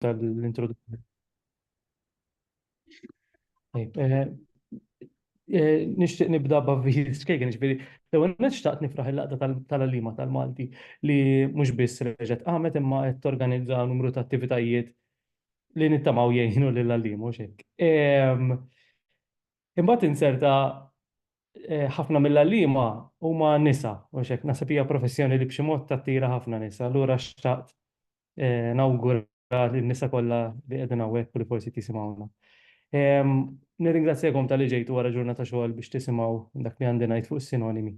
tal-introduzzjoni. Eh, eh, nixtieq nibda b'avviż skejken, ġifieri l-ewwel nixtaqt nifraħ il-laqda tal-għalima tal-Malti li mhux biss reġgħet qamet imma qed torganizza numru ta' attivitajiet li nittamaw jgħinu lil għallim u xek. Ehm, imbagħad inserta eh, ħafna mill-għalima huma nisa u xek nasab hija professjoni li b'xi mod tattira ħafna nisa, allura xtaqt nawgura lin-nisa kollha li qegħdin hawnhekk u li forsi qed jisimgħuna. Nirringrazzjakom talli ġejtu wara ġurnata xogħol biex tisimgħu dak li għandi ngħid fuq is-sinonimi.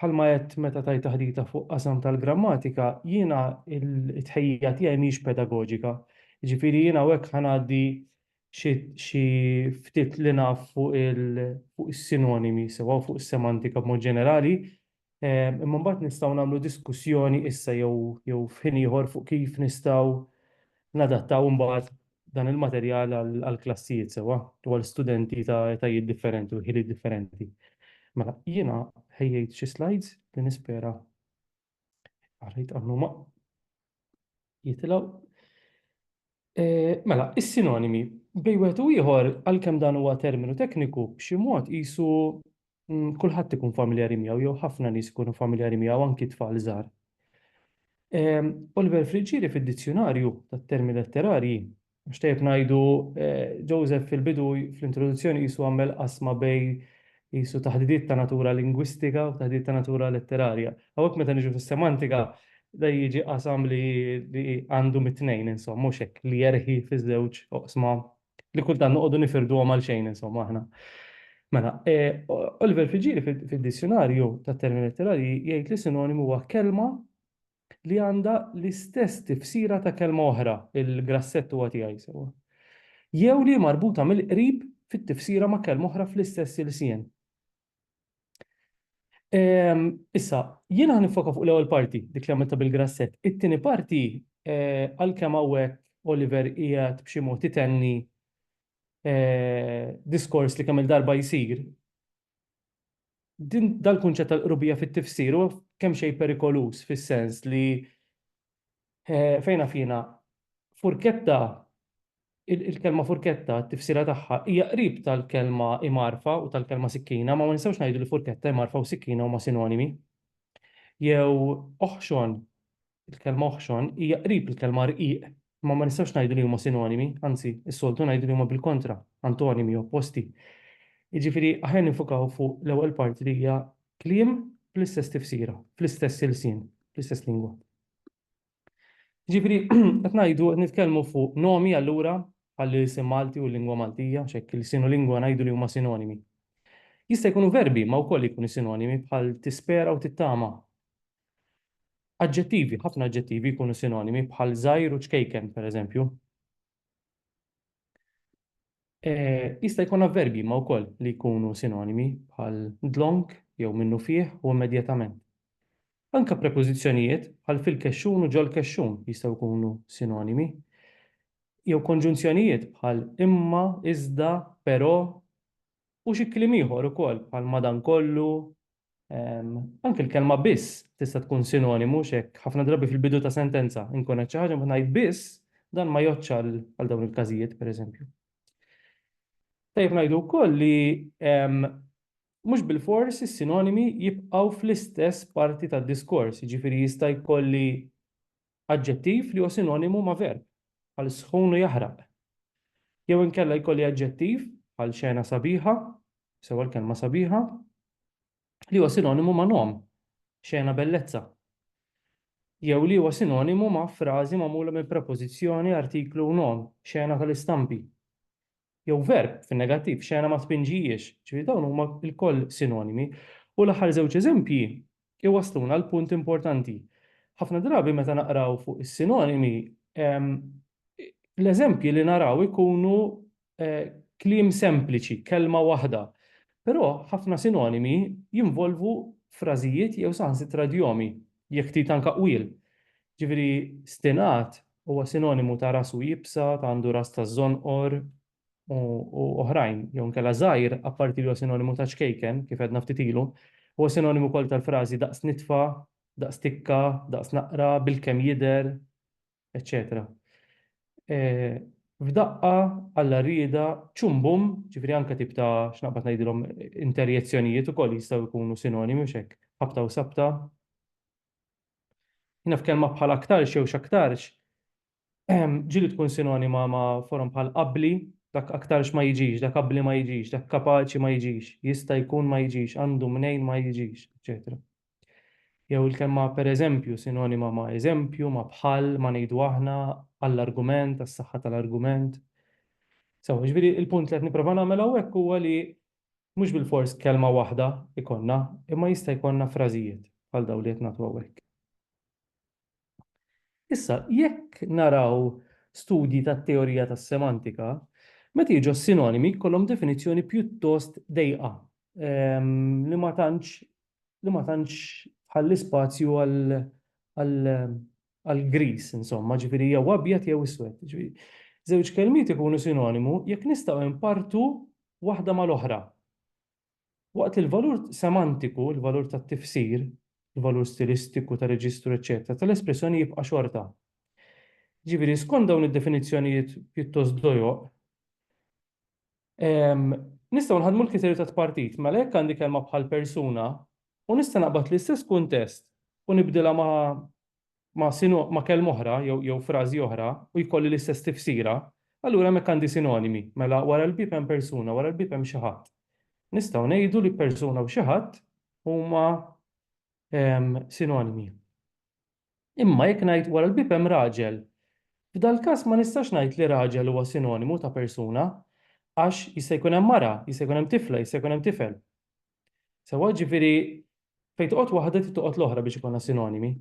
Bħalma għedt meta tajt taħdita fuq qasam tal-grammatika, jiena t-tħejjija tiegħi mhijiex pedagoġika. Jiġifieri jien hawnhekk ħa ngħaddi xi ftit li naf fuq is-sinonimi sewwa u fuq is-semantika b'mod ġenerali, Imma mbagħad nistgħu nagħmlu diskussjoni issa jew jew f'ħin ieħor fuq kif nistgħu nadattaw imbagħad dan il-materjal għall-klassijiet sewwa u għal studenti ta' etajiet differenti u ħiliet differenti. Mela, jiena ħejjejt xi slides li nispera għalhekk għamlu ma' jitilgħu. Mela, is-sinonimi bej wieħed u ieħor għalkemm dan huwa terminu tekniku b'xi mod qisu mm, kulħadd ikun familjari miegħu jew ħafna nies ikunu familjari miegħu anki tfal żgħar. Oliver Friggieri fid-dizzjonarju tat-termi letterarji Mhux tajjeb ngħidu, Joseph fil-bidu fl-introduzzjoni qisu għamel qasma bejn qisu taħdidiet ta' natura lingwistika u taħdidiet ta' natura letterarja. Hawnhekk meta niġu fis-semantika da jiġi qasam li għandu mit-tnejn insomma, mhux hekk, li jerħi fiż-żewġ oqsma li kultant noqogħdu nifirduhom għal xejn insomma aħna. Mela, Oliver Friggieri fid-Dizjunarju tat-Termini Letterarji jgħid li sinonimu huwa kelma li għandha l-istess tifsira ta' kelma oħra, il-grassett huwa tiegħi sewwa, jew li hi marbuta mill-qrib fit-tifsira ma' kelma oħra fl-istess ilsien. Ehm, issa, jiena ħa nifoka fuq l-ewwel parti, dik li għamilta bil-grassett. It-tieni parti, eh, għalkemm hawnhekk Oliver qiegħed b'xi mod itenni eh, diskors li kemm il-darba jsir, Din dal-kunċett tal-qrubija fit-tifsir huwa kemm xejn perikoluż fis-sens li eh, fejn naf jiena furketta il-kelma furketta t-tifsira tagħha hija qrib tal-kelma imarfa u tal-kelma sikkina, ma ma nistgħux ngħidu li furketta imarfa u sikkina huma sinonimi. Jew oħxon Il-kelma oħxon hija qrib il-kelma rqiq, imma ma nistgħux ngħidu li huma sinonimi, anzi, is-soltu ngħidu li huma bil-kontra, antonimi, opposti. Jiġifieri, aħjar ninfokaw fuq l-ewwel parti li hija kliem bl-istess tifsira, fl-istess ilsien, fl-istess lingwa. Jiġifieri, qed ngħidu, qed nitkellmu fuq nomi allura bħall-ilsien Malti u l-lingwa Maltija, x'hekk ilsien u lingwa ngħidu li huma sinonimi. Jista' jkunu verbi ma wkoll jkunu sinonimi bħal tispera u tittama, Aġġettivi, ħafna aġġettivi jkunu sinonimi bħal żgħir u ċkejken, pereżempju. Jista' jkun avverbji ma wkoll li jkunu sinonimi bħal dlonk jew minnufih u immedjatament. Anke prepożizzjonijiet bħal fil-kexxun u ġol-kexxun jistgħu jkunu sinonimi. Jew konġunzjonijiet bħal imma, iżda, però u xi kliem ieħor ukoll bħal madankollu, Anke l-kelma biss tista' tkun sinonimu mhux hekk? Ħafna drabi fil-bidu ta' sentenza inkun qed xi ħaġa mbagħad ngħid biss, dan ma jgħoddx għal dawn il-każijiet pereżempju. Tajjeb ngħidu wkoll li mhux bilfors is-sinonimi jibqgħu fl-istess parti tad-diskors, jiġifieri jista' jkolli aġġettiv li huwa sinonimu ma' verb, bħal sħun u jaħraq. Jew inkella jkolli aġġettiv, bħal xena sabiħa, sewa l-kelma sabiħa, li huwa sinonimu ma' nom, xena bellezza. Jew li huwa sinonimu ma' frażi magħmula minn prepożizzjoni, artiklu u nom, xena tal-istampi. jew verb fin-negattiv, xena ma tpinġihiex, ġifieri dawn huma lkoll sinonimi. U l-aħħar żewġ eżempji jwassluna għal punt importanti. Ħafna drabi meta naqraw fuq is-sinonimi, l-eżempji li naraw ikunu eh, kliem sempliċi, kelma waħda. Però ħafna sinonimi jinvolvu frażijiet jew saħansitra djomi, jekk trid anka qwiel. Ġifieri stinat Huwa sinonimu ta' rasu iebsa, ta' għandu ras ta' żonqor, u u oħrajn, jew inkella żgħir, apparti li huwa sinonimu ta' ċkejken, kif għedna ftit ilu. Huwa sinonimu wkoll tal-frażi daqs nitfa, daqs tikka, daqs naqra, bilkemm jidher, eċċetera F'daqqa, Alla rriedha, ċum bum, ġifieri anke tip ta', x'naqbad ngħidilhom, interjezzjonijiet ukoll jistgħu jkunu sinonimi, mhux hekk? Ħabta u sabta. Hina f'kelma bħal aktarx jew x'aktarx ġili tkun sinonima ma' forom bħal qabbli, dak aktarx ma jiġix, dak qabbli ma jiġix, dak kapaċi ma jiġix, jista' jkun ma jiġix, għandu mnejn ma jiġix, eċċetera. Jew il-kelma pereżempju sinonima ma' eżempju, ma' bħal, ma' ngħidu aħna, għall-argument, għas-saħħa tal-argument. Sew, jiġifieri l-punt li qed nipprova nagħmel hawnhekk huwa li Mhux bilfors kelma waħda jkollna, imma jista' jkollna frażijiet bħal dawn li qed nagħtu hawnhekk. Issa, jekk naraw studji tat-teorija tas-semantika, meta jiġu s-sinonimi jkollhom definizzjoni pjuttost dejqa li ma tantx li ma tantx tħalli spazju għal għal gris, insomma, ġifieri jew abjad jew iswed. Żewġ kelmiet ikunu sinonimu jekk nistgħu npartu waħda mal-oħra. Waqt li l-valur semantiku, il-valur tat-tifsir, il-valur stilistiku ta' reġistru, eċċetera, tal-espressjoni jibqa' xorta. Ġifieri, skont dawn id-definizzjonijiet pjuttost dojoq, Nistgħu nħaddmu l-kriterju ta' tpartit, mela jekk għandi kelma bħal persuna u nista' naqbad l-istess kuntest u nibdilha ma' ma' sino- ma' kelma oħra jew jew frażi oħra u jkolli l-istess tifsira, allura hemmhekk għandi sinonimi, mela wara l-bieb hemm persuna, wara l-bieb hemm xi ħadd. Nistgħu ngħidu li persuna u xi ħadd huma sinonimi. Imma jekk ngħid wara l-bieb hemm raġel, f'dal-każ ma nistax ngħid li raġel huwa sinonimu ta' persuna, għax jista' jkun hemm mara, jista' jkun hemm tifla, jista' jkun hemm tifel. Sewwa, jiġifieri fejn toqgħod waħda trid toqgħod l-oħra biex ikollna sinonimi.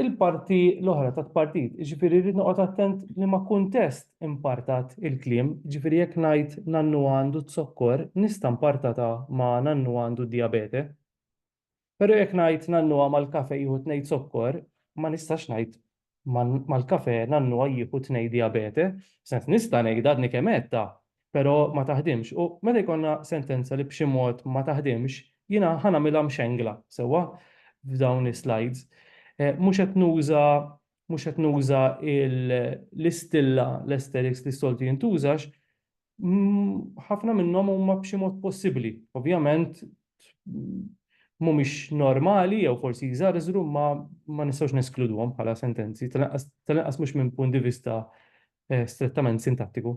il-parti l-oħra ta' tpartit. Ġifieri rrid noqgħod attent li ma' kuntest impartat il-kliem, ġifieri jekk ngħid nannu għandu z-zokkor, nista' mpartatha ma' nannu għandu d-dijabete. Però jekk ngħid nannu għama l-kafe jieħu tnej zokkor, ma nistax ngħid mal-kafe nannu jieħu tnej dijabete. F'sens nista' ngħidha għadni kemm għedtha, pero ma taħdimx u meta jkollna sentenza li b'xi mod ma taħdimx jiena ħa nagħmilha mxengla sewwa f'dawn is-slides. Eh, mhux qed nuża mhux qed nuża l-istilla l-aesthetics li soltu jintużax ħafna minnhom huma b'xi mod possibbli. Ovvjament mhumiex normali jew forsi jżarżru ma ma nistgħux neskluduhom bħala sentenzi, tal-inqas mhux minn punt di vista eh, strettament sintattiku.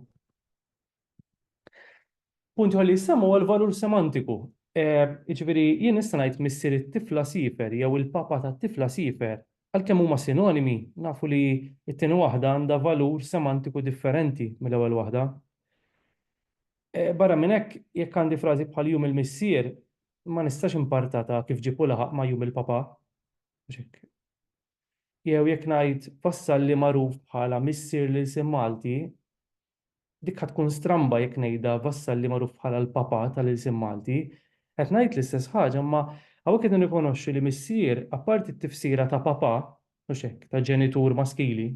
Punt ħalli jissemmu għal valur semantiku. Eh, ġifieri jien nista' ngħid missier it-tifla sifer jew il-papa tat-tifla sifer għalkemm huma sinonimi nafu li t-tieni waħda għandha valur semantiku differenti mill-ewwel waħda. Eh, barra minn hekk jekk għandi frażi bħal jum il-missier ma nistax impartata kif ġipu laħaq ma' jum il-papa. jew jekk ngħid Vassalli magħruf bħala missier l-ilsien Malti, dik ħa tkun stramba jekk ngħidha Vassalli magħruf bħala l-Papa tal-ilsien Malti. Qed ngħid l-istess ħaġa imma hawnhekk qed nirrikonoxxu li missier, apparti t-tifsira ta' papa, mhux hekk, ta' ġenitur maskili,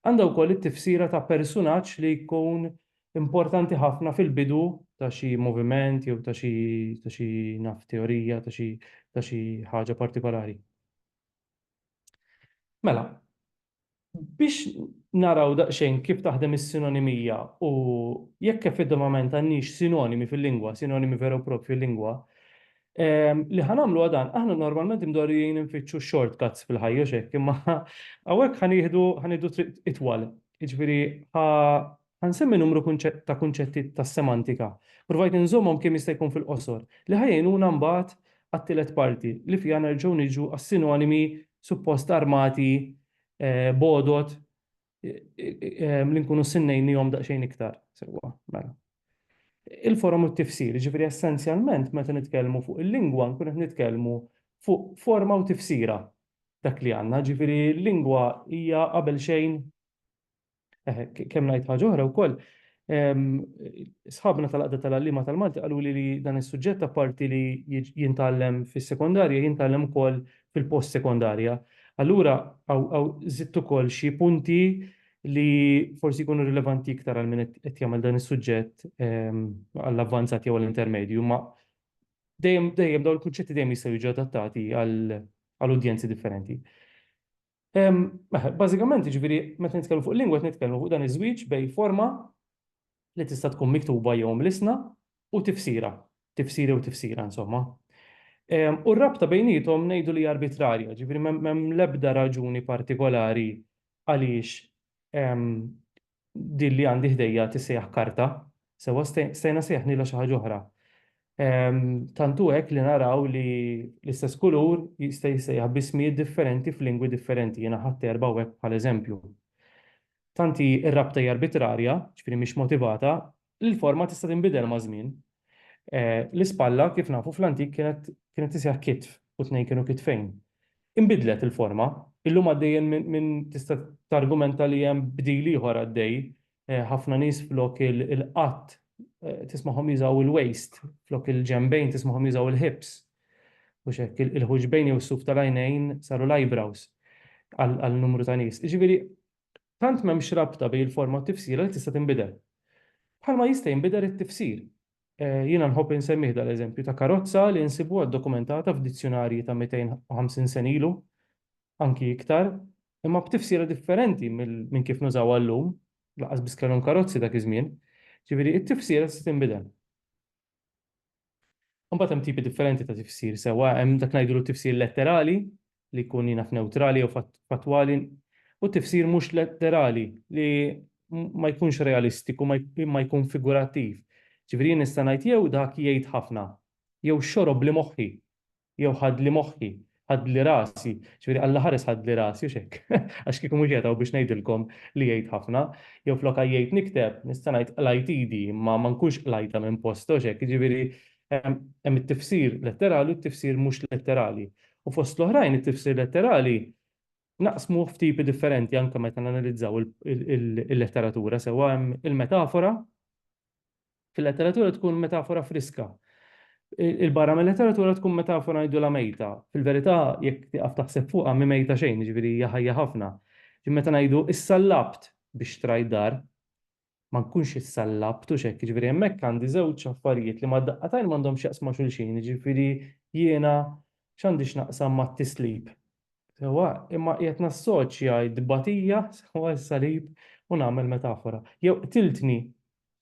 għandha wkoll it-tifsira ta' persunaġġ li jkun importanti ħafna fil-bidu ta' xi moviment jew ta' xi, ta' xi, naf, teorija, ta' xi, ta' xi ħaġa partikolari. Mela, biex naraw daqsxejn kif taħdem is-sinonimija u jekk effettivament għandniex sinonimi fil-lingwa, sinonimi veru propri fil-lingwa, li ħa nagħmlu dan, aħna normalment imdorrijin infittxu shortcuts fil-ħajja x'hekk, imma hawnhekk ħa nieħdu triq itwal. Jiġifieri Ħa nsemmi numru ta' kunċetti tas-semantika, provajt inżommhom kemm jista' jkun fil-qosor, li ħa jgħinuna mbagħad għat-tielet parti, li fiha nerġgħu niġu għas-sinonimi suppost armati b'għodod li nkunu ssennejnihom daqsxejn iktar sewwa. Mela. Il-forom u t-tifsir, jiġifieri essenzjalment meta nitkellmu fuq il-lingwa nkunu qed nitkellmu fuq forma u tifsira dak li għandna, jiġifieri l-lingwa hija qabel xejn Kemm ngħid ħaġa oħra wkoll, sħabna tal-Għaqda tal-Għalliema tal-Malti qaluli li dan is-suġġett apparti li jintgħallem fis-sekondarja, jintgħallem ukoll fil-post-sekondarja. Allura hawn żidt ukoll xi punti li forsi jkunu rilevanti iktar għal min qed jagħmel dan is-suġġett għall-avvanzat jew għall-intermedju, imma dejjem dawn il-kunċetti dejjem jistgħu jiġu adattati għal udjenzi differenti. Bażikament, jiġifieri meta nitkellmu fuq lingwa qed nitkellmu fuq dan iż-żwieġ bejn forma li tista' tkun miktuba jew mlissna u tifsira, tifsiri u tifsira insomma. U r-rabta bejniethom ngħidu li hija arbitrarja, jiġifieri m'hemm l-ebda raġuni partikolari għaliex din li għandi ħdejja tissejjaħ karta, sewwa stajna sejjaħnilha xi ħaġa oħra. Tant hu hekk li naraw li l-istess kulur jista' jissejjaħ b'ismijiet differenti f'lingwi differenti, jiena ħadt erbgħa hawnhekk bħala eżempju. Tant hi r-rabta hija arbitrarja, ġifieri mhix motivata, li l-forma tista' tinbidel maż-żmien. L-ispalla, kif nafu fl-antik, kienet tisseħħ kitf u tnejn kienu kitfejn. Inbidlet il-forma. Illum għaddej minn tista' targumenta li hemm bdil ieħor għaddej, ħafna nies flok il-qadd tismagħhom jużaw il-waist, flok il-ġenbejn tismagħhom jużaw il-hips. Mhux hekk, il-ħuġbejn jew is-suf tal-għajnejn saru l-eyebrows għal numru ta' nies. Jiġifieri Tant m'hemmx rabta bejn il-forma u t-tifsira li tista' tinbidel. Bħalma jista' jinbidel it-tifsir. Jiena nħobb insemmih dal-eżempju ta' karozza li nsibuha ddokumentata f'dizzjunarji ta' 250 sena ilu, anki iktar, imma b'tifsira differenti minn kif nużawha llum, lanqas biss kellhom karozzi dak iż-żmien. Ġifieri, it-tifsira tista' tinbidel. Imbagħad hemm tipi differenti ta' tifsir sewwa, hemm dak ngħidulu t-tifsir letterali li jkun jien naf newtrali jew fattwali u t-tifsir mhux letterali li ma jkunx realistiku imma jkun figurattiv. Ġifieri jien nista' ngħid jew dak jgħid ħafna jew xorob li moħħi jew ħadli moħħi, ħadli rasi, jiġifieri Alla ħares ħadli rasi hux hekk? Għax kieku mhux qiegħed hawn biex ngħidilkom li jgħid ħafna. Jew flok għajjejt nikteb, nista' ngħid qlajt idi imma ma nkunx qlajtha minn postha hux hekk? Jiġifieri hemm it-tifsir letterali u t-tifsir mhux letterali. U fost l-oħrajn it-tifsir letterali naqsmuh f'tipi differenti anke meta nanalizzaw il-letteratura sewwa hemm il-metafora, Fil-letteratura tkun metafora friska. Il-barra mill-letteratura tkun metafora ngħidulha mejta. Fil-verità, jekk tieqaf taħseb fuqha mhi mejta xejn, jiġifieri hija ħajja ħafna. Ġifieri meta ngħidu issallabt biex xtrajt dar, ma nkunx issallabt, hux hekk? Jiġifieri hemmhekk għandi żewġ affarijiet li mad-daqqa t'għajn m'għandhomx x'jaqsmu ma' xulxin, jiġifieri jiena x'għandi x'naqsam mat-tislib? Sewwa, imma qiegħed nassoċja t-tbatija sewwa s-salib u nagħmel metafora. Jew qtiltni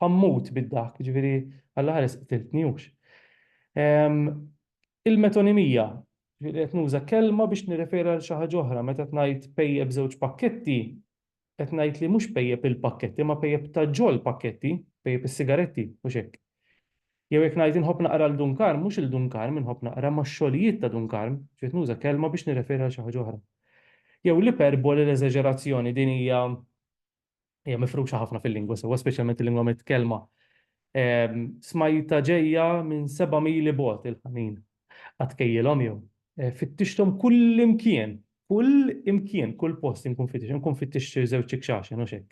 Ħammut bid-daħk, jiġifieri għall-aħħar qtiltni hux. Il-metonimija, jiġifieri qed nuża kelma biex nirreferi għal xi ħaġa oħra, meta qed ngħid pejjep żewġ pakketti, qed ngħid li mhux pejjep il-pakketti, imma pejjep ta' ġol pakketti, pejjep is-sigaretti, mhux hekk. Jew jekk ngħid inħobb naqra l Dun Karm, mhux il-Dun Karm inħobb naqra, imma x-xogħlijiet ta' Dun Karm, jiġifieri qed nuża kelma biex nirreferi għal xi ħaġa oħra. Jew l-iperboli, l-eżaġerazzjoni, din hija hija mifruxa ħafna fil-lingwa sewwa, speċjalment il-lingwa mitkellma. Ehm, smajta ġejja minn seba' mili bogħod il-ħanin. Qatt kejjilhom jew. Eh, fittixthom kull imkien, kull imkien, kull post inkun fittix, inkun fittix żewġ ikxax, jenu xek.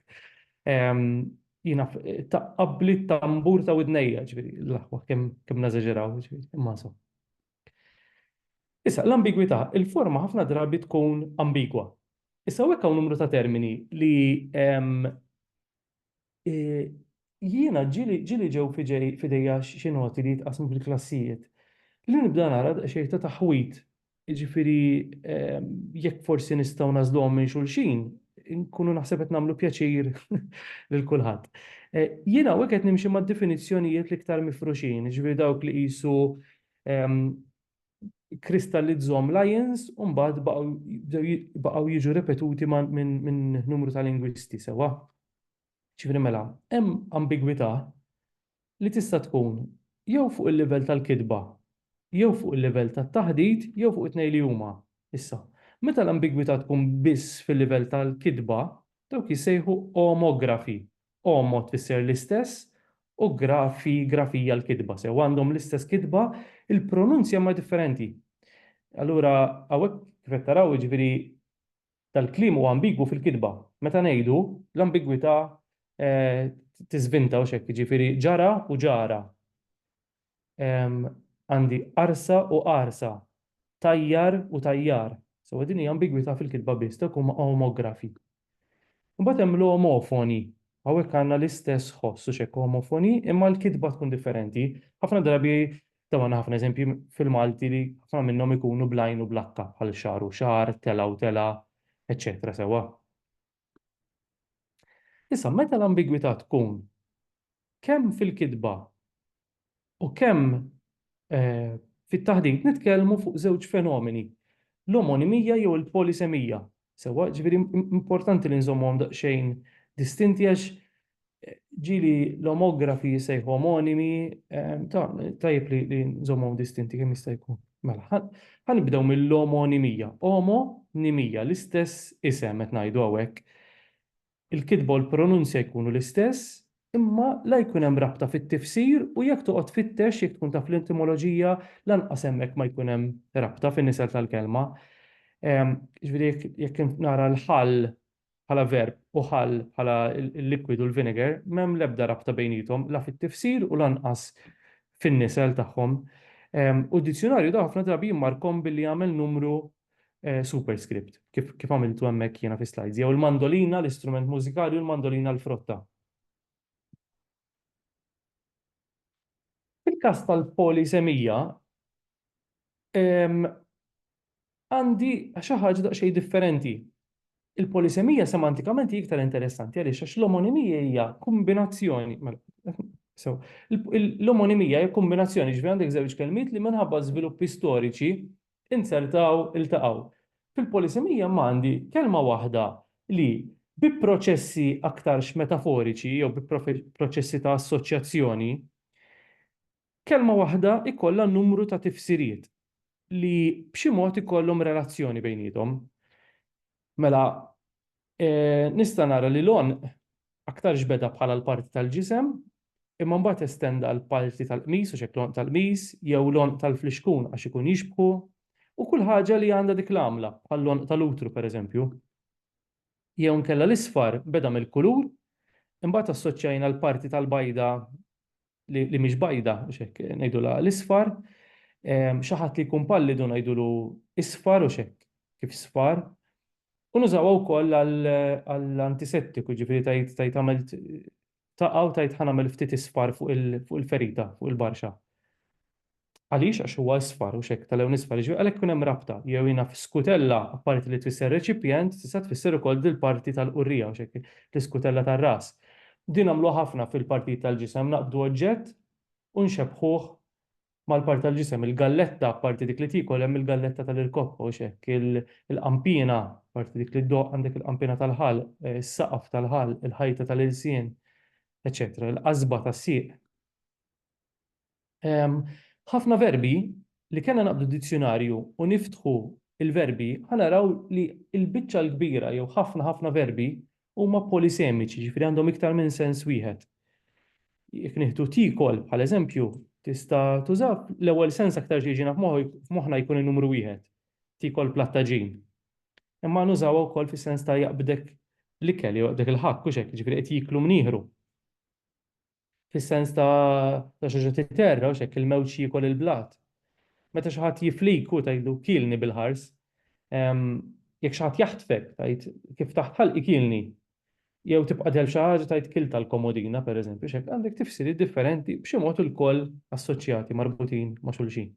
Ehm, jina taqqabli tambur ta' widnejja, ġviri, l-aħwa, kem nażeġeraw, ġviri, imma so. Issa, l-ambigwità, il-forma ħafna drabi tkun ambigwa. Issa hawnhekk hawn numru ta' termini li jiena ġieli ġew f'idejja xi noti li jitqassmu fil-klassijiet li nibda nara xejn ta' taħwid. Jiġifieri jekk forsi nistgħu nagħżluhom minn xulxin, inkunu naħseb qed nagħmlu pjaċir lil kulħadd. Jiena hawnhekk qed nimxi mad-definizzjonijiet l-iktar mifruxin, jiġifieri dawk li qisu kristallizzhom Lyons u mbagħad baqgħu jiġu ripetuti minn numru ta' lingwisti sewwa. Ġifieri mela, hemm ambigwità li tista' tkun jew fuq il-livell tal-kitba, jew fuq il-livell tat-taħdit, jew fuq it-tnejn li huma. Issa, meta l-ambigwità tkun biss fil-livell tal-kitba, dawk jissejħu omografi, Għomod tfisser l-istess u grafi, grafija l-kitba. Sew għandhom l-istess kitba, il-pronunzja imma differenti. Allura hawnhekk kif qed taraw jiġifieri dal-kliem huwa ambigwu fil-kitba. Meta ngħidu l-ambigwità tiżvinta u x'hekk jiġifieri ġara u ġara. għandi qarsa u għarsa, tajjar u tajjar. Sewa din hija ambigwità fil-kitba biss, dawk huma omografi. Imbagħad hemm l-omofoni. Hawnhekk għandna l-istess ħoss u x'hekk omofoni, imma l-kitba tkun differenti. Ħafna drabi tawna ħafna eżempji fil-Malti li ħafna minnhom ikunu bl-għajn u bl-akka bħal xagħar u xagħar, telgħa u telgħa, eċċetera sewwa. Issa, meta l-ambigwità tkun kemm fil-kitba u kemm fit-taħdit nitkellmu fuq żewġ fenomeni, l-omonimija jew il-polisemija, sewwa? Jiġifieri importanti li nżommuhom daqsxejn distinti għax ġili l-omografi jisejħu omonimi, ehm, tajib li, li nżommu distinti kemm jista' jkun. Mela, ħanibdew mill-omonimija. Omonimija, l-istess isem qed ngħidu hawnhekk. Il-kitba u l-pronunzja jkunu l-istess, imma la jkun hemm rabta fit-tifsir u jekk toqgħod fittex jekk tkun taf l-entomoloġija lanqas hemmhekk ma jkun hemm rabta fin-nisel tal-kelma. Ehm, ġifieri jekk nara l-ħall bħala verb u ħall bħala l-liquid u l-vinegar m'hemm l-ebda rabta bejniethom la fit-tifsir u lanqas fin-nisel tagħhom. U d-dizzjunarju da ħafna drabi jimmarkhom billi jagħmel numru superscript, kif kif għamiltu hemmhekk jiena fis-slides, jew il-mandolina l-istrument mużikali u l-mandolina l-frotta. Fil-każ tal-polisemija, għandi xi ħaġa daqsxejn differenti. Il-polisemija semantikament hi iktar interessanti għaliex għax l-omonimija hija kombinazzjoni So, l-omonimija hija kombinazzjoni ġifieri għandek żewġ kelmiet li minħabba żviluppi storiċi inzertaw iltaqgħu. Fil-polisemija imma għandi kelma waħda li, bi proċessi aktarx metaforiċi jew bi proċessi ta' assoċjazzjoni, kelma waħda jkollha numru ta' tifsiriet li b'xi mod ikollhom relazzjoni bejniethom. Mela, nista' nara li l-għonq aktarx beda bħala l-parti tal-ġisem, imma mbagħad estenda għal parti tal-qmis, għax hekk l-għonq tal-qmis, jew l-għonq tal-flixkun għax ikun jixbħu, u kull ħaġa li għandha dik l-għamla, bħall-għonq tal-utru pereżempju. Jew inkella l-isfar beda mill-kulur, imbagħad assoċjajna l-parti tal-bajda li mhix bajda, biex hekk ngħidulha l-isfar, xi ħadd li jkun pallidu ngħidulu isfar u x'hekk kif sfar. U nużawha wkoll għall-antisettiku, ġifieri tajt tajt għamilt taqgħu tajt ħanamel ftit isfar fuq il-ferita, fuq il-barxa. Għaliex? Għax huwa isfar u x'hekk, tal-għew nisfar, jiġifieri għalhekk ikun hemm rabta. Jew jiena f'skutella, apparti li tfisser reċipjent, tista' tfisser ukoll dil-parti tal-qurrija, u x'hekk, l-iskutella tar-ras. Din nagħmluha ħafna fil-partijiet tal-ġisem, naqbdu oġġett u nxebbħuh mal-parti tal-ġisem. Il-galletta, apparti dik li tiekol, hemm il-galletta tal-irkoppa, u x'hekk, il-qanpiena, apparti dik li ddoqq, għandek il-qanpiena tal-ħalq, is-saqaf tal-ħalq, il-ħajta tal-ilsien, eċċetera, il-qasba tas-sieq. Ħafna verbi li kellna naqbdu d-dizzjunarju u niftħu l-verbi ħa naraw li l-biċċa l-kbira jew ħafna ħafna verbi huma polisemiċi, jiġifieri għandhom iktar minn sens wieħed. Jekk nieħdu tiekol bħala eżempju, tista' tuża l-ewwel sens aktar xi jiġina f'moħħna jkun in-numru wieħed, tiekol plattaġin. Imma nużawha wkoll fis-sens ta' jaqbdek l-ikel jew jaqbdek il-ħakk, hux hekk, jiġifieri qed jieklu mnieħru. Fis-sens ta' xaġa titerra u x'hekk, il-mewġ jiekol il-blat. Meta xi ħadd jiflik u tgħidlu kielni bil-ħars. Jekk xi ħadd jaħtfek, tgħid kif taħt ħalqi kielni. Jew tibqa' dell f'xi ħaġa tgħid kilt tal-komodina, pereżempju, x'hekk. Għandek tifsiriet differenti, b'xi mod ilkoll assoċjati, marbutin ma' xulxin.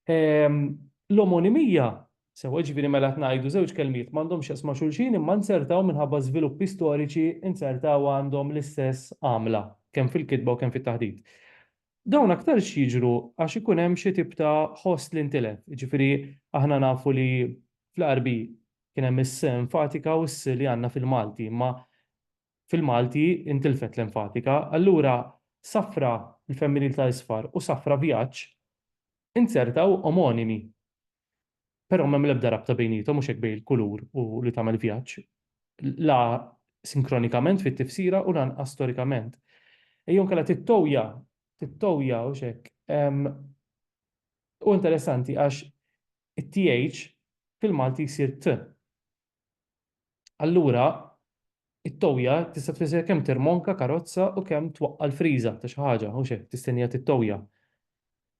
L-omonimija, sewwa jiġifieri mela qed ngħidu żewġ kelmiet m'għandhomx x'jaqsmu ma' xulxin imma nzertaw minħabba żviluppi storiċi nzertaw għandhom l-istess għamla kemm fil-kitba u kemm fit-taħdit. Dawn aktarx jiġru għax ikun hemm xi tip ta' ħoss li ntilef, jiġifieri aħna nafu li fl-Għarbi kien hemm is-s enfatika u s-s li għandna fil-Malti imma fil-Malti intilfet l-enfatika, allura safra, il-femminil ta' isfar, u safra, vjaġġ, inzertaw omonimi. Però m'hemm l-ebda rabta bejniethom, mhux hekk bejn il-kulur u li tagħmel vjaġġ, la sinkronikament fit-tifsira u lanqas storikament. Jew inkella tittoja, tittoja, hux hekk? Hu interessanti għax it-th fil-Malti jsir t. Allura, it-towja tista' tfisser kemm tirmonka karozza u kemm twaqqa' l-friża ta' xi ħaġa, mhux hekk, tistenniha tittowja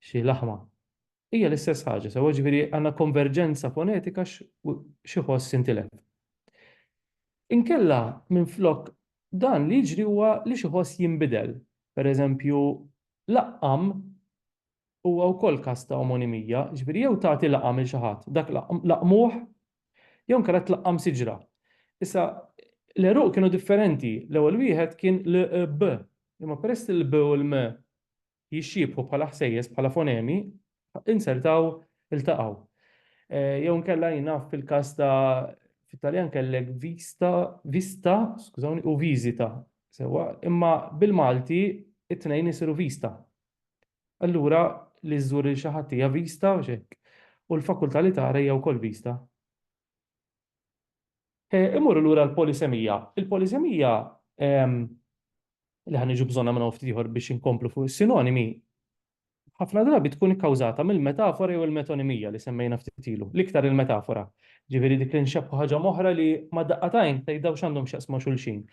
xi laħma. Hija l-istess ħaġa, sewwa, jiġifieri għandna konverġenza fonetika x'iħoss intilef. Inkella, minflok dan li jiġri huwa li x'iħoss jinbidel. Pereżempju, laqqam huwa wkoll każ ta' omonimija, jiġifieri jew tagħti laqam lil xi ħadd, dak laqmuh Jew inkella tlaqqam siġra. Issa, l-għeruq kienu differenti. L-ewwel wieħed kien l-b, imma peress li l-b u l-m jixxiebħu bħala ħsejjes, bħala fonemi, insertaw iltaqgħu. Jew inkella jien naf fil-każ ta' fit-Taljan kellek vista, vista, skużawni, u viżita. Sewwa, imma bil-Malti it-tnejn isiru vista. Allura li żżur lil xi ħadd hija vista għax hekk, u l-fakultà li tara hija wkoll vista. E, Imorru lura l-polisemija. Il-polisemija ehm, li ħan iġu bżonna minn ftit ieħor biex inkomplu fuq is-sinonimi, ħafna drabi tkun ikkawżata mill-metafora jew il-metonimija li semmejna ftit ilu, l-iktar il-metafora. Ġifieri dik li nxebħu ħaġa moħra li ma daqqatajn tgħidha x'għandhom x'jaqsmu xulxin.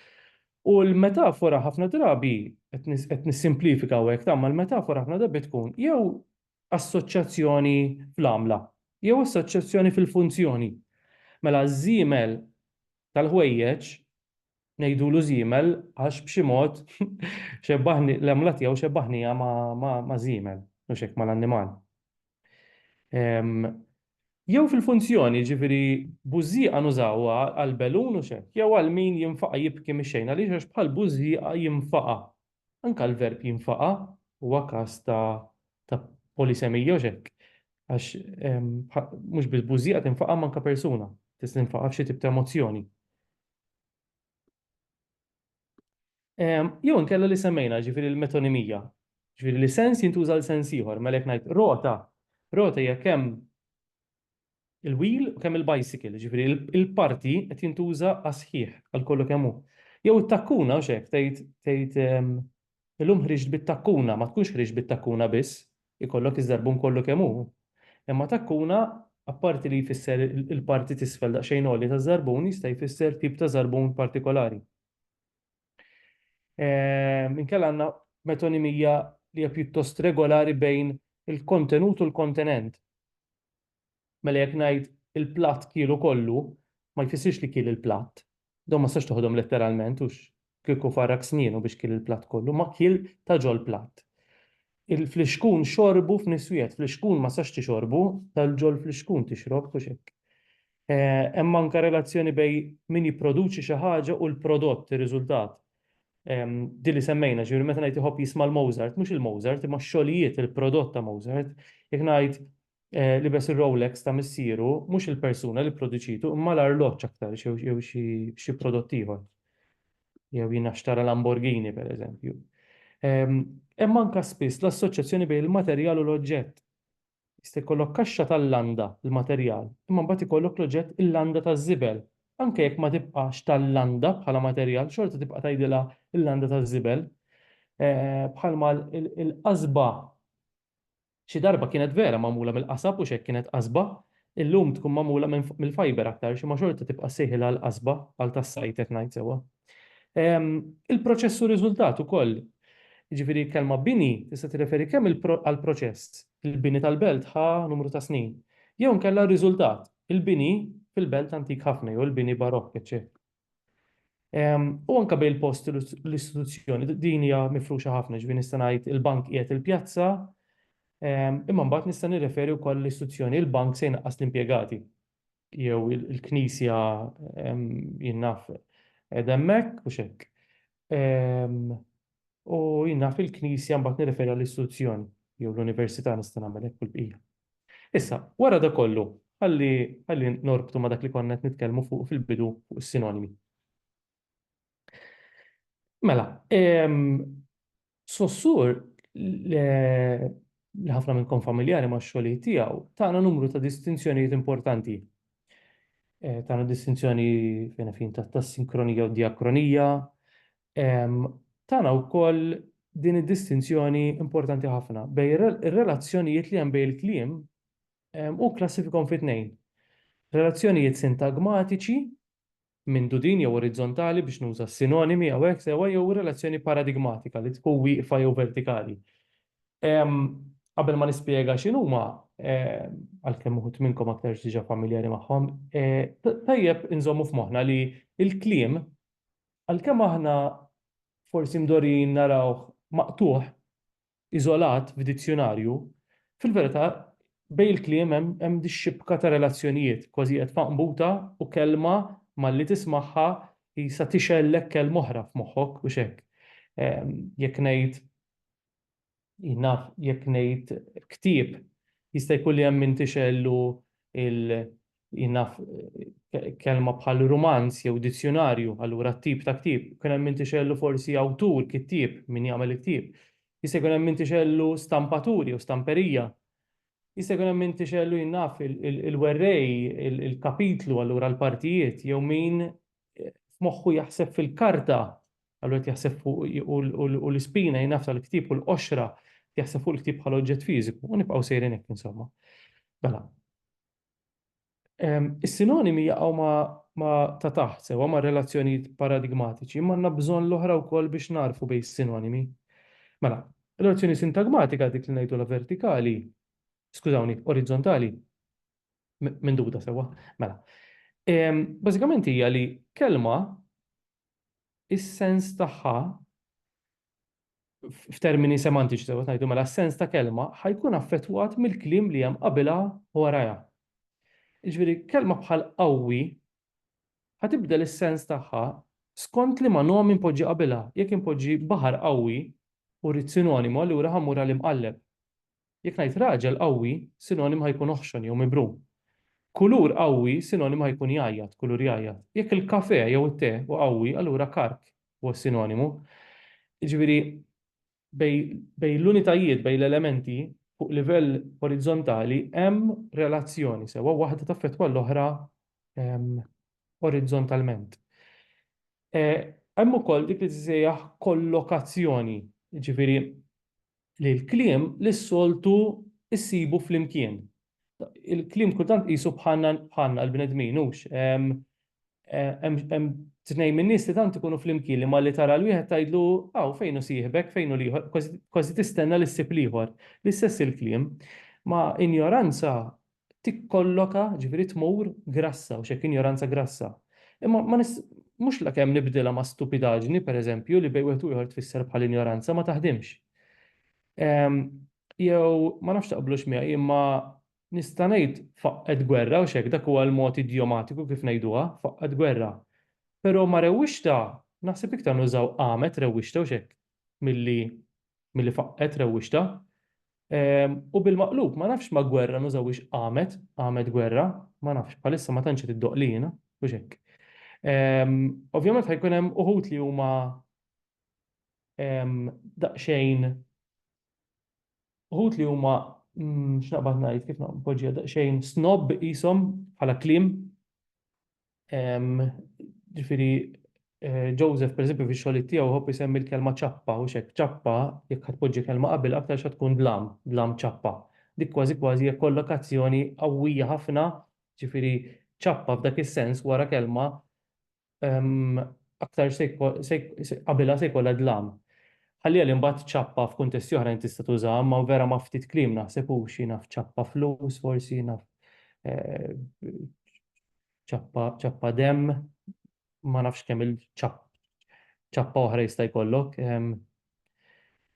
U l-metafora ħafna drabi, qed nissimplifika hawnhekk, tagħma l-metafora ħafna drabi tkun jew assoċjazzjoni fl-għamla, jew assoċjazzjoni fil-funzjoni. Mela ż-żiemel tal-ħwejjeġ, ngħidulu żiemel għax b'xi mod xebbahni, l-għamla tiegħu xebbahniha ma' żiemel, mhux hekk, mal-annimal. Jew fil-funzjoni, jiġifieri bużżieqa nużawha għal belun u x'hekk, jew għal min jinfaqa' jibki mix-xejn għaliex għax bħal bużżieqa jinfaqa'. Anke l-verb jinfaqa' huwa każ ta' ta' polisemija u x'hekk għax mhux biss bużżieqa tinfaqa' imma anke persuna tista' tinfaqa' f'xi tip ta' emozzjoni. Jew inkella li semmejna ġifieri l-metonimija. Ġifieri li sens jintuża l sens ieħor, mela jekk ngħid rota, rota hija kemm il-wheel u kemm il-bicycle, ġifieri il-parti qed jintuża għas-sħiħ għal kollu kemm hu. Jew it-takkuna hux hekk tgħid tgħid Illum ħriġt bit-takkuna, ma tkunx ħriġt bit-takkuna biss, ikollok iż-żarbun kollu kemm hu. Imma takkuna, apparti li jfisser il-parti t'isfel daqsxejn għolja taż-żarbun, jista' jfisser tip ta' żarbun partikolari. Inkella għandna metonimija li hija pjuttost regolari bejn il-kontenut u l-kontenent. Mela jekk ngħid il-platt kielu kollu, ma jfissirx li kiel il-platt. Dawn ma tistax toħodhom letteralment, hux kieku farrak snienu biex kiel il-platt kollu, ma kiel ta' ġol-platt. Il-flixkun xorbu f'niswiegħed, flixkun ma tistax tixorbu, tal-ġol-flixkun tixrob, hux hekk? Hemm anke relazzjoni bejn min jipproduċi xi ħaġa u l-prodott, ir-riżultat. Din li semmejna, jiġifieri meta ngħid iħobb jisma' l-Mozart, mhux il-Mozart, imma x-xogħlijiet, il-prodott ta' Mozart. Jekk ngħid Libes ir-Rolex ta' missieru mhux il-persuna li pproduċitu imma l-arloġġ aktar jew xi prodott ieħor. Jew jiena xtara Lamborghini pereżempju. Hemm anke spiss l-assoċjazzjoni bejn il-materjal u l-oġġett. Jista' jkollok kaxxa tal-landa, il-materjal, imma mbagħad ikollok l-oġġett il-landa taż-żibel. Anke jekk ma tibqax tal-landa bħala materjal, xorta tibqa' tgħidilha l-landa taż-żibel. Bħalma l-qasba Xi darba kienet vera magħmula mill-qasab u x'hekk kienet qasba, illum tkun magħmula minn fuq mill-fiber aktarx imma xorta tibqa' ssejħilha l-qasba għal tas-sajd jekk ngħid sewwa. Il-proċess u riżultat ukoll, jiġifieri l-kelma bini tista' tirreferi kemm għall-proċess, il-bini tal-belt ħa numru ta' snin, jew inkella r-riżultat, il-bini fil-belt antik ħafna jew il-bini barokk, eċċetera. U anke bejn il-post u l-istituzzjoni, din hija mifruxa ħafna, ġifieri nista' ngħid il-bank qiegħed il-pjazza, imma mbagħad nista' nirreferi wkoll l-istituzzjoni, il-bank se jnaqqas l-impjegati jew il-knisja jien naf qiegħda hemmhekk u x'hekk. U jien naf il-knisja mbagħad nirreferi għall-istituzzjoni jew l-università nista' nagħmel hekk u l-bqija. Issa, wara dak kollu, ħalli, ħalli norbtu ma' dak li konna qed nitkellmu fuqu fil-bidu fuq is-sinonimi. Mela, ehm, Sossur li ħafna minnkom familjari ma' xogħlijiet tiegħu, tagħna numru ta' distinzjonijiet importanti. E, tagħna distinzjoni fejn fin ta' sinkronija u diakronija, tana wkoll din id-distinzjoni importanti ħafna bejn ir-relazzjonijiet li hemm bejn il-kliem u kklassifikahom fi tnejn, relazzjonijiet sintagmatiċi, mindudin jew orizzontali biex nuża s-sinonimi hawnhekk sewwa jew relazzjoni paradigmatika li tkun wieqfa jew vertikali. Qabel ma nispjega x'inhuma, għalkemm uħud minnkom aktarx diġà familjari magħhom, tajjeb inżommu f'moħħna li l-kliem Għalkemm aħna forsi mdorrijin narawh maqtugħ, iżolat f'dizzjunarju, fil-verità bejn il-kliem hemm dix-xibka ta' relazzjonijiet, kważi qiegħed f'għanbuta u kelma malli tismagħha qisha tixgħellek kelma oħra f'moħħok, hux hekk? Jekk ngħid Jien naf jekk ngħid ktieb, jista' jkun li hemm min tixgħellu l, jien naf kelma bħal rumanz jew dizzjunarju, allura t-tip ta' ktieb. Jkun hemm min tixgħellu forsi awtur, kittieb, min jagħmel il-ktieb. Jista' jkun hemm min tixgħellu stampatur jew stamperija. Jista' jkun hemm min tixgħellu, jien naf, il-werrej, il-kapitlu, allura l-partijiet, jew min f'moħħu jaħseb fil-karta, allura qed jaħseb fuq u l-ispina jingħafs għall-ktieb u l-qoxra qed jaħseb fuq il-ktieb bħala oġġett fiżiku u nibqgħu sejrin hekk insomma. Mela. Is-sinonimi jaqgħu ma' ta' taħt sewwa ma' relazzjonijiet paradigmatiċi, imma għandna bżonn l-oħra wkoll biex nagħrfu bejn is-sinonimi. Mela, relazzjoni sintagmatika dik li ngħidulha vertikali, skużawni, orizzontali, Minduta sewwa, mela. Bażikament hija li kelma is-sens tagħha f'termini semantiċi sewwa ngħidu mela s-sens ta' kelma ħajkun affettwat mill-kliem li hemm qabilha u warajha. Jiġifieri kelma bħal qawwi ħatibdel is-sens tagħha skont li ma nom inpoġġi qabilha. Jekk inpoġġi baħar qawwi u rrid sinonimu allura ħammur għal imqalleb. Jekk ngħid raġel qawwi, sinonim ħa jkun oħxon jew mibrum. Kulur qawwi, sinonim ħa jkun jgħajjat, kulur jgħajjat. Jekk il-kafè jew it-te hu qawwi, allura karg huwa s-sinonimu. Jiġifieri bejn l-unitajiet, bejn l-elementi, fuq livell orizzontali hemm relazzjoni sewwa, waħda taffettwa l-oħra orizzontalment. Hemm ukoll dik li tissejjaħ kollokazzjoni, jiġifieri li l-kliem li s-soltu ssibu flimkien. Il-kliem kultant qisu bħalna l-bnedmin, hux? Hemm tnejn min-nies li tant ikunu flimkien li malli tara 'l wieħed tgħidlu hawn fejn hu sieħbek, fejn hu l-ieħor, kważi tistenna li ssib l-ieħor. L-istess il-kliem. Ma' injoranza tikkolloka, jiġifieri tmur, grassa, u x'hekk injoranza grassa. Imma ma nis, mhux lakemm nibdilha ma' stupidaġni, per eżempju, li bejn wieħed u ieħor tfisser bħal injoranza, ma taħdimx. Ehm, jew, ma nafx taqblux miegħi, imma nista' ngħid faqqgħet gwerra, u x'hekk, dak huwa l-mod idjomatiku kif ngħiduha, faqqgħet gwerra. Però ma' rewwixta, naħseb iktar nużaw qamet rewwixta, u x'hekk, milli, milli faqqgħet rewwixta. U bil-maqlub, ma nafx ma gwerra nużawix qamet, qamet gwerra, ma nafx, bħalissa ma tantx tiddoq li jiena, u xekk. Ovvjament ħajkun hemm uħut li huma daqsxejn uħut li huma mm, x'naqbad ngħid kif naqbad daqsxejn snob qishom bħala kliem Ġifieri eh, Joseph pereżempju fix-xogħlijiet tiegħu ħobb isemmi l-kelma ċappa u xek ċappa jekk ħadd tpoġġi kelma qabel aktar xa tkun dlam, dlam ċappa. Dik kważi kważi hija kollokazzjoni qawwija ħafna, ġifieri ċappa f'dak is-sens wara kelma ehm, aktar se jko- se jk- se- qabilha se jkollha dlam. Ħalli għal imbagħad ċappa f'kuntesti oħrajn tista' tuża, ma vera ma ftit kliem naħseb u xi naf ċappa flus forsi naf eh, ċappa ċappa demm ma nafx kemm il-ċappa oħra jista' jkollok.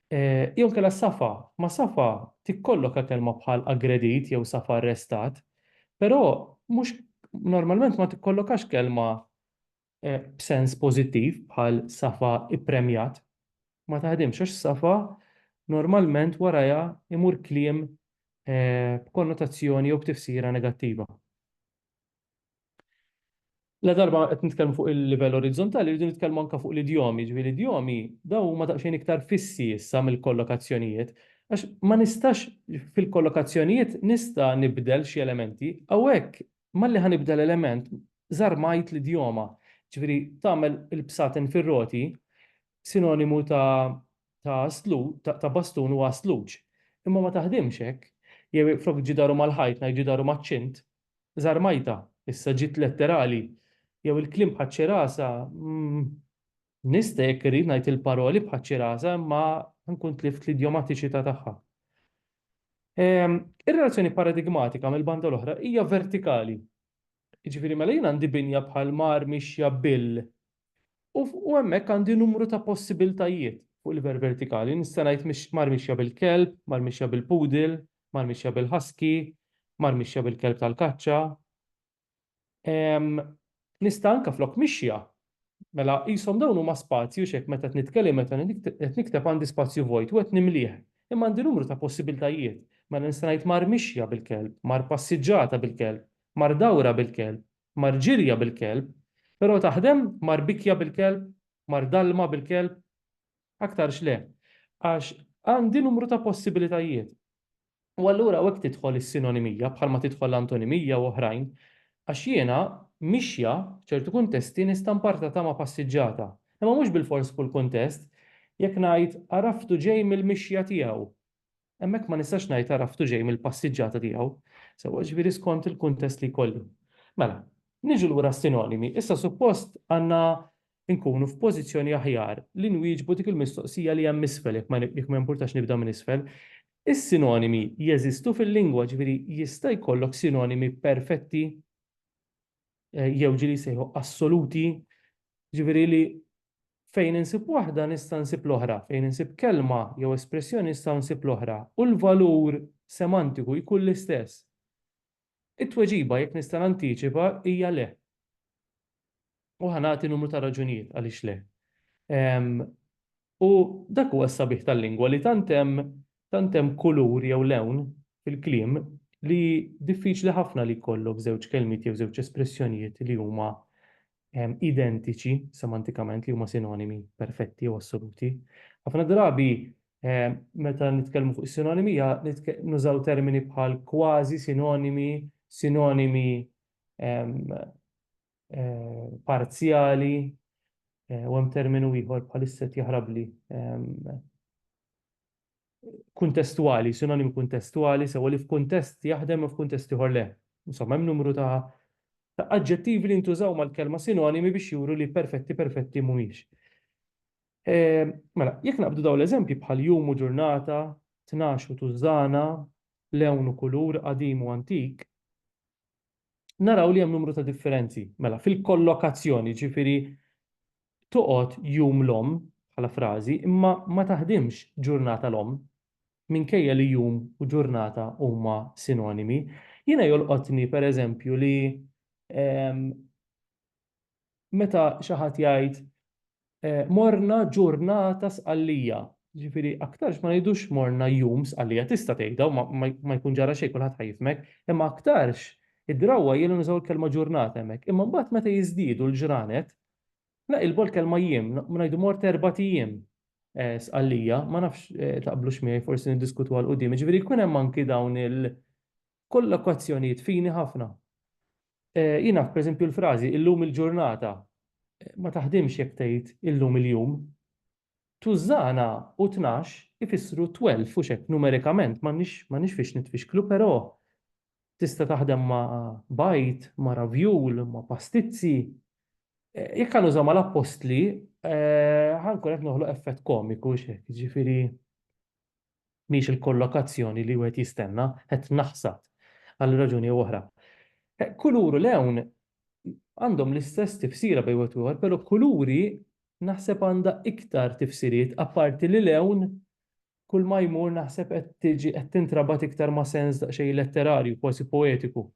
Eh, jew kella safa, ma safa tikkollok kelma bħal aggredit jew safa arrestat, però mhux normalment ma tikkollokax kelma b'sens pożittiv bħal safa ppremjat ma taħdimx għax safa normalment warajha imur kliem b'konnotazzjoni jew b'tifsira negattiva. Ladarba qed nitkellmu fuq il-livell orizzontali rridu nitkellmu anke fuq l-idjomi, jiġifieri l-idjomi dawn huma daqsxejn iktar fissi issa mill-kollokazzjonijiet għax ma nistax fil-kollokazzjonijiet nista' nibdel xi elementi, hawnhekk malli ħa nibda l-element żarmajt l-idjoma, ġifieri tagħmel il-bsaten fir-roti sinonimu ta' ta' aslu, ta', ta bastun u aslug. Imma ma taħdimx hekk. Jew jekk flok ġidaru mal-ħajt ngħid ġidaru maċ-ċint, żarmajtha, issa ġiet letterali. Jew il-kliem bħaċ-ċerasa, mm. Nista' jekk irrid ngħid il-paroli bħaċ-ċirasa imma nkun tlift l-idjomatiċità tagħha. Ir-relazzjoni paradigmatika mill-banda l-oħra hija vertikali. Jiġifieri mela jien għandi binja bħal mar mixja bil u hemmhekk għandi numru ta' possibiltajiet fuq livell vertikali. Nista' ngħid mar mixja bil-kelb, mar mixja bil-poodle, mar mixja bil-husky, mar mixja bil-kelb tal-kaċċa. nista' anke flok mixja. Mela qishom dawn huma spazji u x'hekk meta qed nitkellem meta qed nikteb għandi spazju vojt u qed nimlih. Imma għandi numru ta' possibiltajiet. Mela nista' ngħid mar mixja bil-kelb, mar passiġġata bil-kelb, mar dawra bil-kelb, mar ġirja bil-kelb. Però taħdem mar bikja bil-kelb, mar dalma bil-kelb? Aktarx le. Għax għandi numru ta' possibilitajiet. U allura hawnhekk tidħol is-sinonimija, bħalma tidħol l-antonimija u oħrajn, għax jiena, mixja, f'ċertu kuntesti nista' npartatha ma' passiġġata. Imma mhux bilfors f'kull kuntest. Jekk ngħid, għaraftu ġej mill-mixja tiegħu, hemmhekk ma nistax ngħid għaraftu ġej mill-passiġġata tiegħu. Sewwa, jiġifieri skont il-kuntest li jkolli. Mela, niġu lura għas-sinonimi. Issa suppost għandna inkunu f'pożizzjoni aħjar li nwieġbu dik il-mistoqsija li hemm isfel, jekk ma jekk ma jimpurtax nibda minn isfel. Is-sinonimi jeżistu fil-lingwa, jiġifieri jista' jkollok sinonimi perfetti jew ġieli jsejħu assoluti, jiġifieri li fejn insib waħda nista' nsib l-oħra, fejn insib kelma jew espressjoni nista' nsib l-oħra u l-valur semantiku jkun l-istess. It-tweġiba, jekk nista' nantiċipa, hija le. U ħa nagħti numru ta' raġunijiet għaliex le. U dak huwa s-sabiħ tal-lingwa li tant hemm tant hemm kulur jew lewn fil-kliem li diffiċli ħafna li jkollok żewġ kelmiet jew żewġ espressjonijiet li huma identiċi semantikament li huma sinonimi perfetti jew assoluti. Ħafna drabi Meta nitkellmu fuq is-sinonimija, nużaw termini bħal kważi sinonimi, sinonimi parzjali, u hemm terminu ieħor bħalissa qed jaħrabli, kuntestwali, sinonimi kuntestwali, sewa li f'kuntest jaħdem u f'kuntest ieħor le. Insomma, hemm numru ta' aġġettivi li ntużaw mal-kelma sinonimi biex juru li perfetti perfetti mhumiex. Eh, mela, jekk naqbdu daw l-eżempji bħal jum u ġurnata, tnax u tużżana, lewn u kulur, qadim u antik, naraw li hemm numru ta' differenzi. Mela, fil-kollokazzjoni, ġifiri, toqgħod jum l-om bħala frażi, imma ma taħdimx ġurnata l-om, minkejja li jum u ġurnata huma sinonimi. Jiena jolqotni, per eżempju, li ehm, meta xi ħadd jgħid eh, morna ġurnata sqallija. Ġifieri aktarx ma ngħidux morna jum sqallija tista' tgħidha u ma jkun ġara xejn kulħadd ħajfmek, imma aktarx id-drawwa jielu nużaw il-kelma ġurnata hemmhekk. Imma mbagħad meta jiżdiedu l-ġranet, naqilbu l-kelma jiem, ngħidu mort erba' ijiem eh, sqallija, ma nafx eh, taqblux miegħi forsi niddiskutu għal qudiem. Ġifieri jkun hemm anki dawn il- Kollokazzjonijiet fini ħafna. Jien naf pereżempju l-frażi illum il-ġurnata ma taħdimx jekk tgħid illum il-jum. Tużżana u tnax ifissru twelf hux hekk numerikament m'għandniex fiex nitfixklu però tista' taħdem ma' bajd, ma' ravjul, ma' pastizzi. Jekk ħa nuża mal-appostli ħa nkun qed noħloq effett komiku hux hekk jiġifieri mhix il-kollokazzjoni li wieħed jistenna, qed naħsad għal raġuni jew oħra. Kulur u lewn għandhom l-istess tifsira bejn wieħed u ieħor, però kuluri naħseb għandha iktar tifsiriet apparti li lewn kull ma jmur naħseb qed tiġi qed tintrabat iktar ma' sens daqsxejn letterarju, kważi poetiku.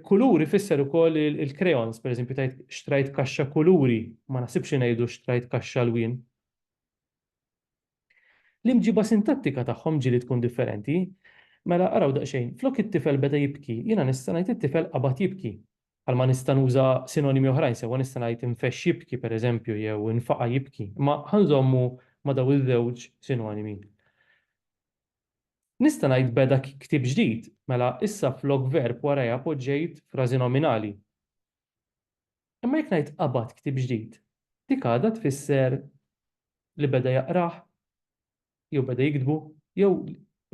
Kuluri fisser ukoll il-crayons, pereżempju tgħid xtrajt kaxxa kuluri, ma naħsibx ngħidu xtrajt kaxxa lwien. L-imġiba sintattika tagħhom ġieli tkun differenti. Mela, araw daqsxejn, flok it-tifel beda jibki, jiena nista' ngħid it-tifel qabad jibki. Bħal ma nista' nuża sinonimi oħrajn sewwa nista' ngħid infexx jibki, per eżempju, jew infaqa' jibki, imma ħa nżommu ma' dawn iż-żewġ sinonimi. Nista' ngħid beda ktieb ġdid, mela issa flok verb warajha poġġejt frażi nominali. Imma jekk ngħid qabad ktieb ġdid, dik għadha tfisser li beda jaqrah, jew beda jiktbu, jew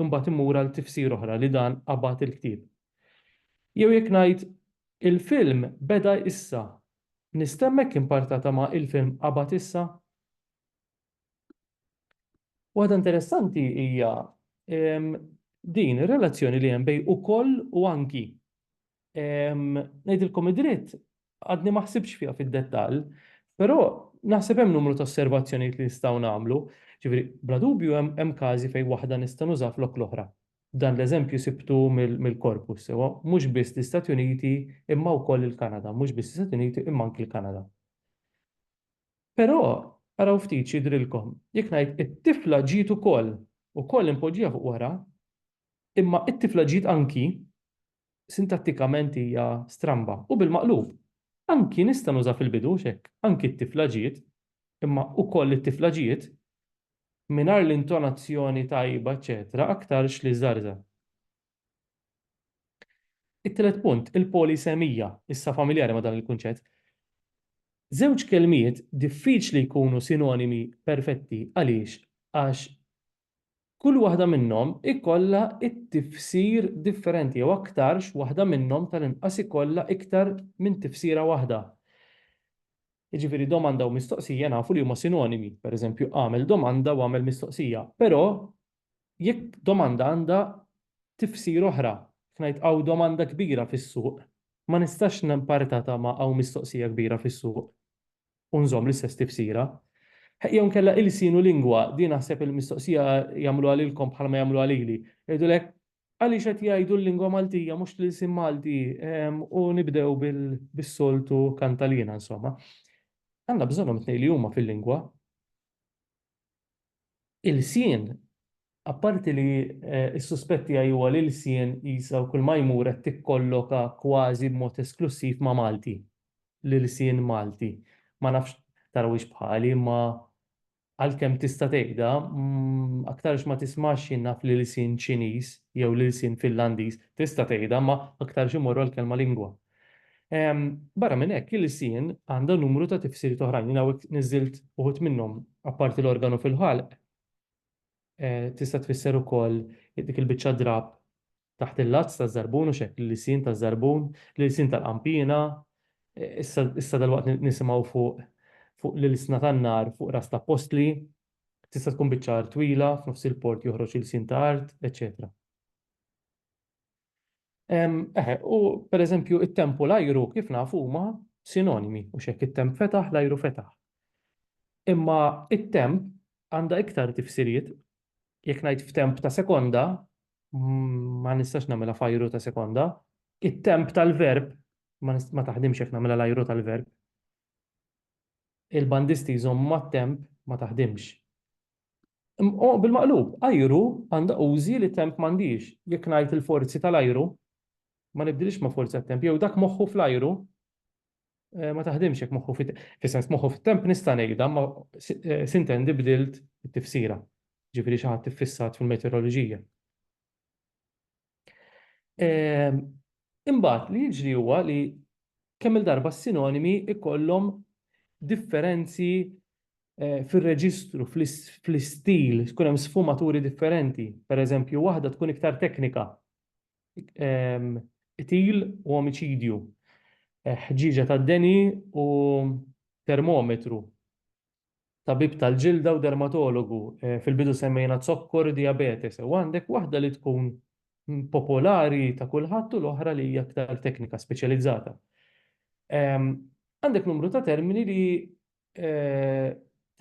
imbagħad immur għal tifsira oħra li dan qabad il-ktieb. Jew jekk ngħid il-film beda issa, nistenna hekk impartata ma' il-film qabad issa? Waħda interessanti hija din ir-relazzjoni li hemm bej ukoll u anki. Ngħidilkom id-dritt għadni ma ħsibx fiha fid-dettall, però naħseb hemm numru ta' osservazzjonijiet li nistgħu nagħmlu. Ġifieri, bla dubju hemm każi fejn waħda nista' nuża flok l-oħra. Dan l-eżempju sibtu mill-korpus sewwa, mhux biss l-Istati Uniti imma wkoll il-Kanada, mhux biss l-Istati Uniti imma anki l-Kanada. Però, araw ftit x'jidhrilkom, jekk ngħid, it-tifla ġiet ukoll, ukoll impoġġija fuq wara, imma it-tifla ġiet anki, sintattikament hija stramba, u bil-maqlub. Anki nista' nuża fil-bidu, hux hekk? Anki t-tifla ġiet, imma ukoll it-tifla ġiet, mingħajr l-intonazzjoni tajba, eċċetera, aktarx li żgħarżagħ. It-tielet punt, il-polisemija, issa familjari ma' dan il-kunċett. Żewġ kelmiet diffiċli jkunu sinonimi perfetti. Għaliex? Għax kull waħda minnhom ikollha t-tifsir differenti jew aktarx waħda minnhom tal-inqas ikollha iktar minn tifsira waħda. Jiġifieri domanda u mistoqsija nafu li huma sinonimi, pereżempju agħmel domanda u agħmel mistoqsija, però jekk domanda għandha tifsir oħra, jekk ngħid hawn domanda kbira fis-suq, ma nistax nparitatha ma' hawn mistoqsija kbira fis-suq u nżomm l-istess tifsira. Jew inkella ilsien u lingwa, din naħseb il-mistoqsija jagħmluha lilkom bħalma jagħmluha lili. Jgħidulek, għaliex qed jgħidu l-lingwa Maltija mhux l-ilsien Malti u nibdew bis-soltu kantaliena insomma. Għandna bżonnhom it-tnejn li huma fil-lingwa. Ilsien, apparti li s-suspett tiegħi huwa li Ilsien qisha u kull ma jmur qed tikkolloka kważi b'mod esklussiv ma' Malti, l-ilsien Malti. Ma nafx tarawhiex bħali imma għalkemm tista' tgħidha, aktarx ma tismgħax jien naf l-ilsien Ċiniż jew l-ilsien Finlandiż, tista' tgħidha imma aktarx imorru għall-kelma lingwa. Barra minn hekk, il-lisien għandha numru ta' tifsiriet oħrajn. Jien hawnhekk niżżilt uħud minnhom. Apparti l-organu fil-ħalq, tista' tfisser ukoll dik il-biċċa drapp taħt il-lazz taż-żarbun, hux hekk, l-lisien taż-żarbun, l-ilsien tal-qanpiena, issa dalwaqt nisimgħu fuq fuq l-ilsna tan-nar fuq ras l-appostli, tista' tkun biċċa art twila, f'nofs il-port joħroġ ilsien ta' art, eċċetera. Eħe, u per eżempju, it-temp u l-ajru kif nafu huma sinonimi, u xek it-temp fetaħ, l-ajru fetaħ. Imma it-temp għandha iktar tifsiriet, jekk ngħid f'temp ta' sekonda, ma nistax nagħmilha f'ajru ta' sekonda, it-temp tal-verb ma taħdimx jekk nagħmilha l-ajru tal-verb. Il-bandisti jżommu mat-temp ma taħdimx. Imma bil-maqlub, ajru għandha użi li temp m'għandhiex. Jekk ngħid il-forzi tal-ajru, ma nibdilhiex ma' forzi tat-temp. Jew dak moħħu fl-ajru ma taħdimx jekk moħħu fit-temp. Fis-sens moħħu fit-temp nista' ngħidha, imma sintendi bdilt it-tifsira. Jiġifieri xi ħadd iffissat fil-meteoroloġija. Ehm, imbagħad li jiġri huwa li kemm il-darba s-sinonimi ikollhom differenzi eh, fil-reġistru, fl-istil, tkun hemm sfumaturi differenti. Per eżempju, waħda tkun iktar teknika. Ehm, itil u omiċidju, eh, ħġiġa ta' deni u termometru. tabib tal-ġilda u dermatologu. Fil-bidu semmejna zokkor u dijabete. Sew għandek waħda li tkun popolari ta' kulħadd u l-oħra li hija aktar teknika speċjalizzata. Għandek numru ta' termini li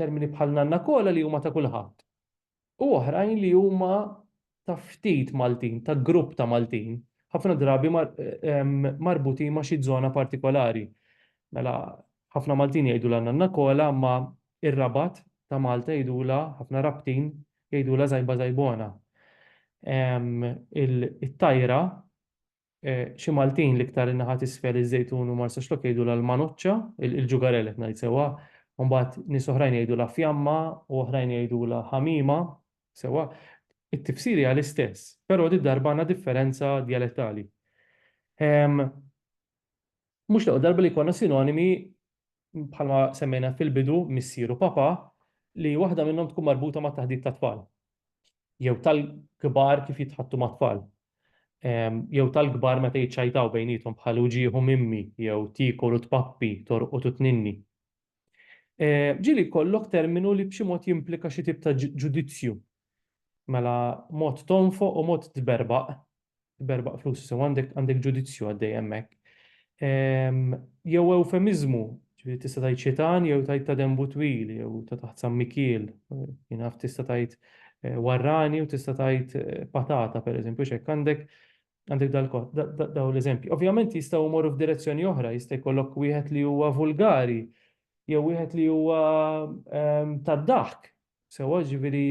termini bħal nanna kola li huma ta' kulħadd. u oħrajn li huma ta' ftit Maltin, ta' grupp ta' Maltin, ħafna drabi marbutin ma' xi żona partikolari. Mela, ħafna Maltin jgħidulha Nanna Kola, imma r-Rabat ta' Malta jgħidulha, ħafna Rabtin, jgħidulha Żajba Żajbona. It-tajra Xi Maltin, l-iktar in-naħa t'isfel, iż-Żejtun u Marsaxlokk jgħidulha l-Manoċċa, il-ġugarell qed ngħid sewwa, u mbagħad nies oħrajn jgħidulha fjamma u oħrajn jgħidulha ħamiema, sewwa, it-tifsir hija l-istess, però did-darba għandna differenza djalettali. Mhux l-ewwel darba li jkollna sinonimi bħalma semmejna fil-bidu missier u papà li waħda minnhom tkun marbuta mat-taħdit tat-tfal. Jew tal-kbar kif jitħaddtu mat-tfal. Jew tal-kbar meta jiċċajtaw bejniethom bħal u ġieħu mimmi jew tiekol u tpappi, torqod u tninni. Ġieli jkollok terminu li b'xi mod jimplika xi tip ta' ġudizzju. Mela mod tonfoq u mod tberbaq, tberbaq flus, sew għandek għandek ġudizzju għaddej hemmhekk. Jew ewfemiżmu, ġifieri tista' tgħid xitan jew tgħid ta' denbu twil jew ta' taħt sammikiel, jien naf tista' tgħid warrani u tista' tgħid patata pereżempju, x'hekk għandek Għandek dal-kod, daw l-eżempji. Ovvjament jistgħu jmorru f'direzzjoni oħra, jista' jkollok wieħed li huwa vulgari, jew wieħed li huwa ehm, tad-daħk. Sewwa ġifieri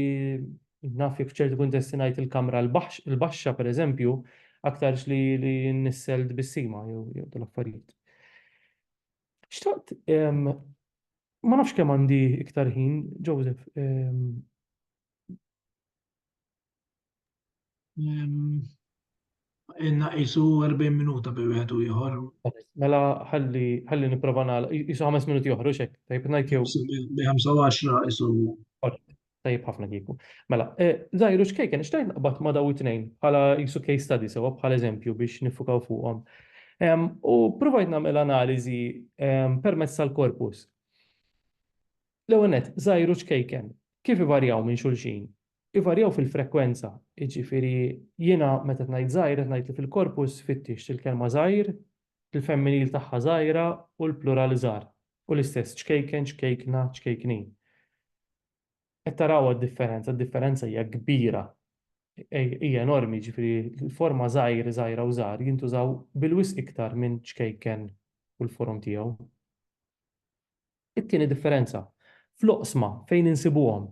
naf jekk ċertu kuntesti ngħid il-kamra l-baxxa pereżempju, aktarx li li nissel tbissima jew jew tal-affarijiet. Xtaqt ehm, ma nafx kemm għandi iktar ħin, Joseph, ehm, Inna qisu 40 minuta bi wieħed u ieħor. Mela ħalli ħalli nipprova nagħlaq. Qisu ħames minuti oħra xek. Tajb ngħid jew. Bi 25 qisu. Tajb ħafna kieku. Mela, e, żgħiru xkejken xtajt naqbad ma' daw it-tnejn bħala qisu case study sewa bħala eżempju biex nifukaw fuqhom. U provajt nagħmel analiżi permezz tal-korpus. L-ewwel nett, żgħiru xkejken Kif ivarjaw minn xulxin? Ivarjaw fil-frekwenza, jiġifieri jiena meta qed ngħid żgħir qed ngħid li fil-korpus fittixt il-kelma żgħir, il-femminil tagħha żgħira u l-plural żgħar, u l-istess ċkejken, ċkejkna, ċkejknin. Qed tarawha d-differenza, d-differenza hija kbira, hija enormi, jiġifieri l-forma żgħir, żgħira u żgħar jintużaw bil-wisq iktar minn ċkejken u l-forom tiegħu. It-tieni differenza, fl-oqsma fejn insibuhom.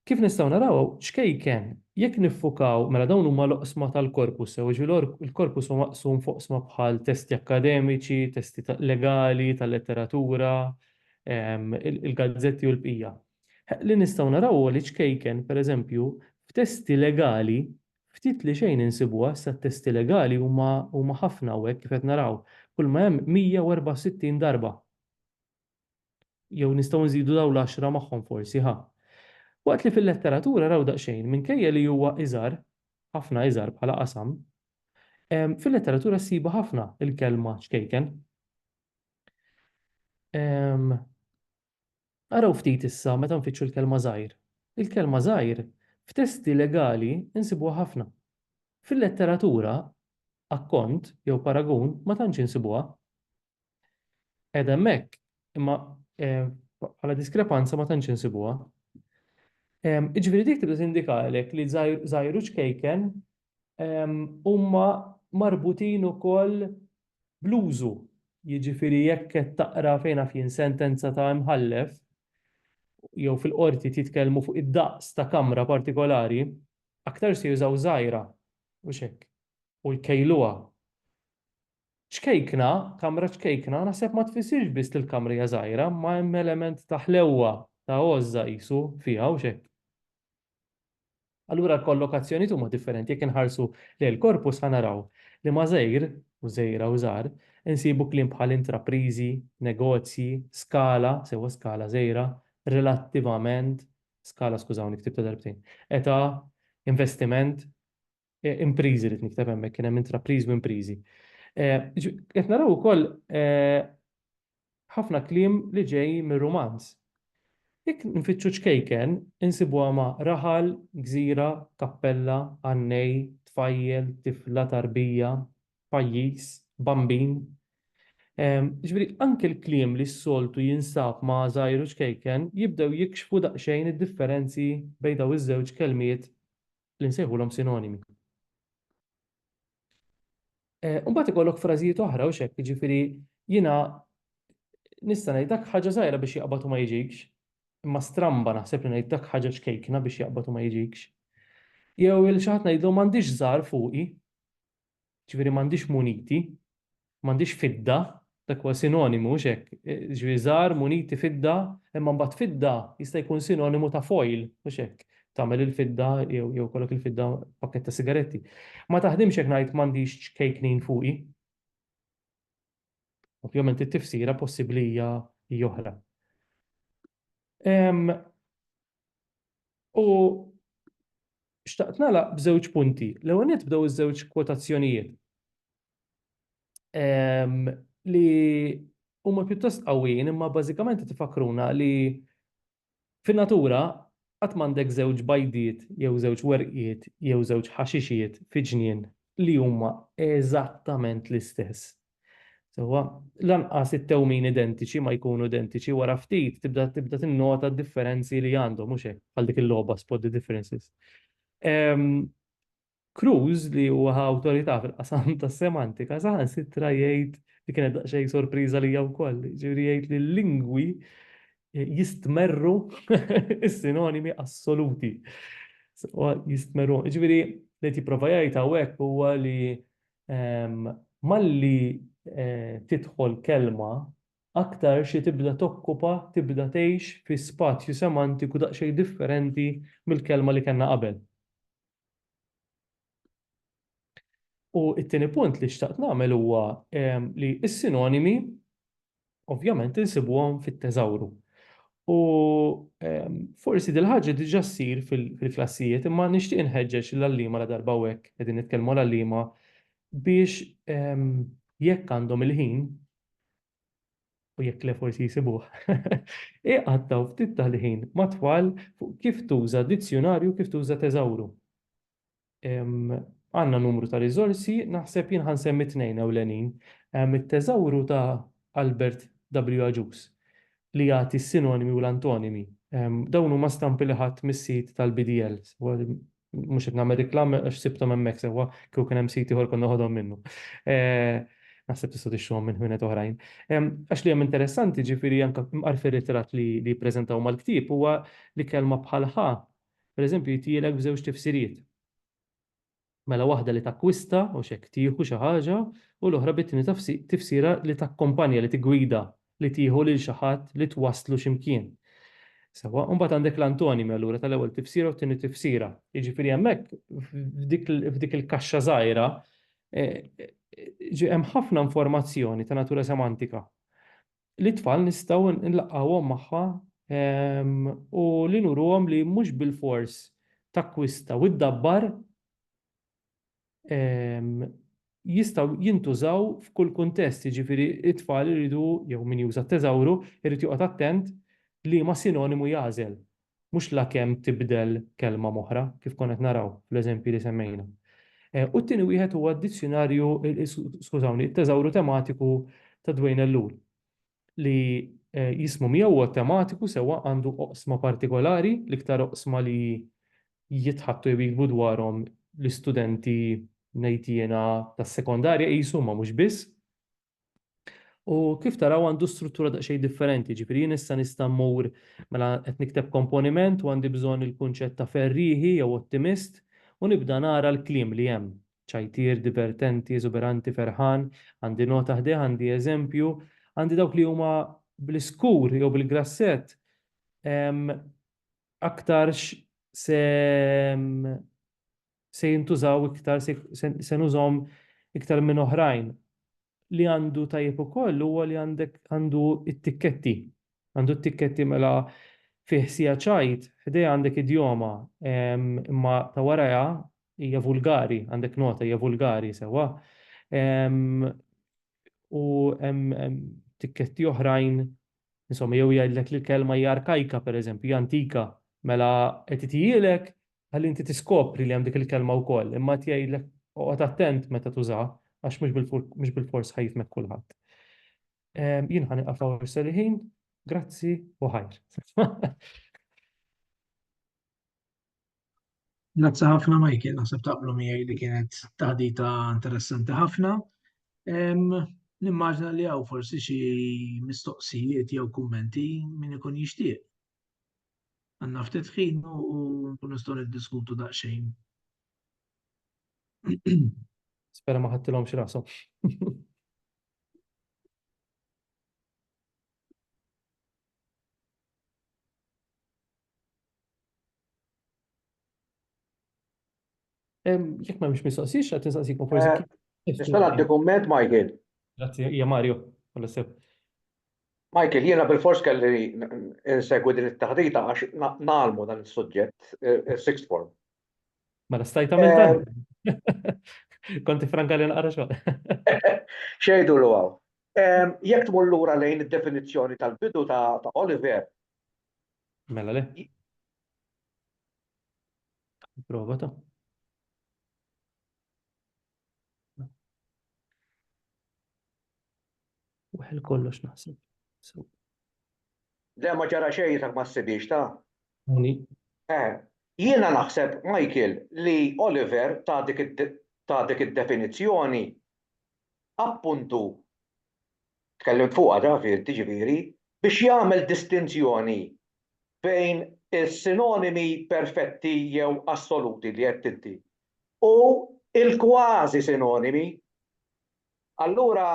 Kif nistgħu naraw hawn, ċkejken, jekk niffukaw, mela dawn huma l-oqsma tal-korpus sew, jiġifieri l-korpus huwa maqsum f'oqsma bħal testi akkademiċi, testi legali, tal-letteratura, il-gazzetti u l-bqija. Li nistgħu naraw huwa li ċkejken, pereżempju, f'testi legali ftit li xejn insibuha, issa t-testi legali huma ħafna hawnhekk kif qed naraw, kulma hemm 164 darba. Jew nistgħu nżidu dawn l-għaxra magħhom forsi, ħa? Waqt li fil-letteratura raw daqsxejn, minkejja li huwa iżgħar, ħafna iżgħar bħala qasam, fil-letteratura ssibha ħafna l-kelma ċkejken. Araw ftit issa meta nfittxu l-kelma żgħir. Il-kelma żgħir f'testi legali nsibuha ħafna. Fil-letteratura, akkont jew paragun ma tantx insibuha. Qed hemmhekk, imma bħala diskrepanza ma tantx insibuha. Jiġifieri dik tibda tindika għalhekk li żgħir u ċkejken huma marbutin ukoll bl-użu. Jiġifieri jekk qed taqra fejn naf jien sentenza ta' imħallef jew fil-qorti titkellmu fuq id-daqs ta' kamra partikolari, aktarx se jużaw żgħira, mhux hekk, u jkejluha. Ċkejkna, kamra ċkejkna naħseb ma tfissirx biss li l-kamra hija żgħira, imma hemm element ta' ħlewwa, ta' għożża qisu, fiha, hux hekk? Allura l-kollokazzjonijiet huma differenti jekk inħarsu lejn il-corpus ħa naraw li ma' żgħir, u żgħira u żgħar, insibu kliem bħal intrapriżi, negozji, skala, sewwa skala żgħira, relattivament, skala skużawni ktibtha darbtejn, età, investiment, impriżi rrid nikteb hemmhekk, kien hemm intrapriżi u impriżi. Qed naraw ukoll ħafna kliem li ġej mir-Rumanz. Jekk nfittxu ċkejken, insibuha ma' raħal, gżira, kappella, għannej, tfajjel, tifla, tarbija, pajjiż, bambin. Jiġifieri anke l-kliem li s-soltu jinsab ma' żgħir u ċkejken jibdew jikxfu daqsxejn id-differenzi bejn dawn iż-żewġ kelmiet li nsejħulhom sinonimi. Eh, imbagħad ikollok frażijiet oħra u xek, jiġifieri jiena nista' ngħid dak ħaġa żgħira biex jaqbad u ma jiġikx, imma stramba naħseb li ngħid dak ħaġa ċkejkna biex jaqbad u ma jiġikx. Jew il xi ħadd ngħidlu m'għandix żgħar fuqi, Ġifieri m'għandix muniti, m'għandix fidda, dak huwa sinonimu mhux hekk? Ġifieri żgħar, muniti, fidda, imma mbagħad fidda jista' jkun sinonimu ta' foil, mhux hekk? Tagħmel il-fidda jew jew ikollok il-fidda pakkett ta' sigaretti. Ma taħdimx jekk ngħid m'għandix ċkejknin fuqi. Ovvjament it-tifsira possibbli hija hija oħra. U xtaqt nagħlaq b'żewġ punti. L-ewwel nett bdew iż-żewġ kwotazzjonijiet ehm, li huma pjuttost qawwijin imma bażikament tifakruna li fin-natura qatt m'għandek żewġ bajdiet jew żewġ werqiet jew żewġ ħaxixiet fi ġnien li huma eżattament l-istess. Sewwa, lanqas it-tewmin identiċi ma jkunu identiċi, wara ftit tibda tibda tinnota d-differenzi li għandhom, mhux hekk, bħal dik il-logħba Spot the Differences. Cruz li huwa awtorità fil-qasam tas-semantika saħansitra jgħid li kienet daqsxejn sorpriża lija wkoll, ġifieri jgħid li l-lingwi jistmerru is-sinonimi assoluti. Jistmerru, ġifieri li qed jipprova jgħid hawnhekk huwa li malli tidħol kelma aktar xi tibda tokkupa, tibda tgħix fi spazju semantiku daqsxejn differenti mill-kelma li kellna qabel. U t-tieni punt li xtaqt nagħmel huwa li s-sinonimi ovvjament insibuhom fit-teżawru. U ehm, forsi dil-ħaġa diġa ssir fil-klassijiet, imma nixtieq inħeġġeġ l-għallima la darba hekk qegħdin nitkellmu l-għallima biex ehm, jekk għandhom il-ħin u jekk le forsi jisibuh, iqattaw ftit tal-ħin matwal fuq kif tuża dizzjonarju, kif tuża teżawru. għandna numru ta' riżorsi, naħseb jien ħansemmi tnejn ewlenin. Hemm it-Teżawru ta' Albert W. Agius li jagħti s-sinonimi u l-antonimi. Dawn huma stampi li ħadt mis-sit tal-BDL. Mhux qed nagħmel riklama għax sibthom hemmhekk sewwa, kieku kien hemm sit ieħor kont noħodhom minnu. Naħseb tistgħu tixtruhom minn ħwienet oħrajn. Għax li hemm interessanti, ġifieri anke mqar fir-ritratt li jippreżentaw mal-ktieb, huwa li kelma bħal ħa Pereżempju, jitjielek b'żewġ tifsiriet. Mela waħda li takkwista, u x'hekk, tieħu xi ħaġa, u l-oħra bit-tieni tifsira li takkompanja, li tiggwida, li tieħu lil xi ħadd, li twasslu xi mkien. Sewwa, u mbagħad għandek l-antonimi allura tal-ewwel tifsira u t-tieni tifsira. Jiġifieri hemmhekk f'dik il-kaxxa żgħira hemm ħafna informazzjoni ta' natura semantika. lit-tfal nistgħu nlaqqgħuhom magħha u li nuruhom li mhux bilfors takkwista u ddabbar jistgħu jintużaw f'kull kuntest, jiġifieri t-tfal iridu, jew min juża t-teżawru, irid joqgħod attent liema sinonimu jagħżel mhux lakemm tibdel kelma m'oħra, kif konna qed naraw fl-eżempji li semmejna. U t-tieni wieħed huwa d-dizzjunarju, skużawni, it-teżawru tematiku ta' Dwayne Ellul, li jismu miegħu huwa tematiku sewwa għandu oqsma partikolari, l-iktar oqsma li jitħaddtu jew jiktbu dwarhom l-istudenti ngħid jiena tas-sekondarja qisu, imma mhux biss. U kif taraw għandu struttura daqsxejn differenti, ġifieri jien issa nista' mmur mela qed nikteb komponiment u għandi bżonn il-kunċett ta' ferrieħi jew ottimist u nibda nara l-kliem li hemm, ċajtier, divertenti, eżuberanti, ferħan, għandi nota ħdejh, għandi eżempju, għandi dawk li huma bl-iskur jew bil-grassett aktarx se se jintużaw iktar, se nużhom iktar minn oħrajn. Li għandu tajjeb ukoll huwa li għandek għandu t-tikketti. Għandu t-tikketti mela fih sija ċajt, ħdejha għandek idjoma, imma ta' warajha hija vulgari, għandek nota hija vulgari sewwa. U hemm tikketti oħrajn, insomma jew jgħidlek li l-kelma hija arkajka pereżempju, hija antika, mela qed ithijielek ħalli inti tiskopri li hemm dik il-kelma wkoll, imma qed jgħidlek oqgħod attent meta tużaha għax mhux bil-fors ħajfmek kulħadd. Ehm, jien ħani qafaw seliħin, grazzi u ħajr. Grazzi ħafna Michael, naħseb taqblu miegħi li kienet taħdita interessanti ħafna. Ehm, nimmaġna li għaw forsi xi mistoqsijiet jew kummenti min ikun jixtieq. Għanna ftit ħin u nkun nistgħu niddiskutu daqsxejn. Spera ma ħattilhom xi rashom. Jekk ma mhix mistoqsix, qed nistaqsikom forsi. Eh, Nista' nagħti kumment, Michael? Grazzi, hija Mario, għal sew. Michael, jiena bil-fors kelli insegwi din it-taħdita għax nagħlmu dan is-suġġett eh, eh, sixth form. Mela stajt tagħmel dan. Konti franka li naqra xogħol. Xejdu l għaw. Jekk tmur lura lejn id-definizzjoni tal-bidu ta' Oliver. Mela le. Prova ta'. Waħel kollox naħseb. Le ma ġara xejn jisak ma ssibiex ta'. Muni. Eh, jiena naħseb, Michael, li Oliver ta' dik id-definizzjoni appuntu tkellimt fuqha David, jiġifieri, biex jagħmel distinzjoni bejn is-sinonimi perfetti jew assoluti li għedt inti u l-kważi sinonimi. Allura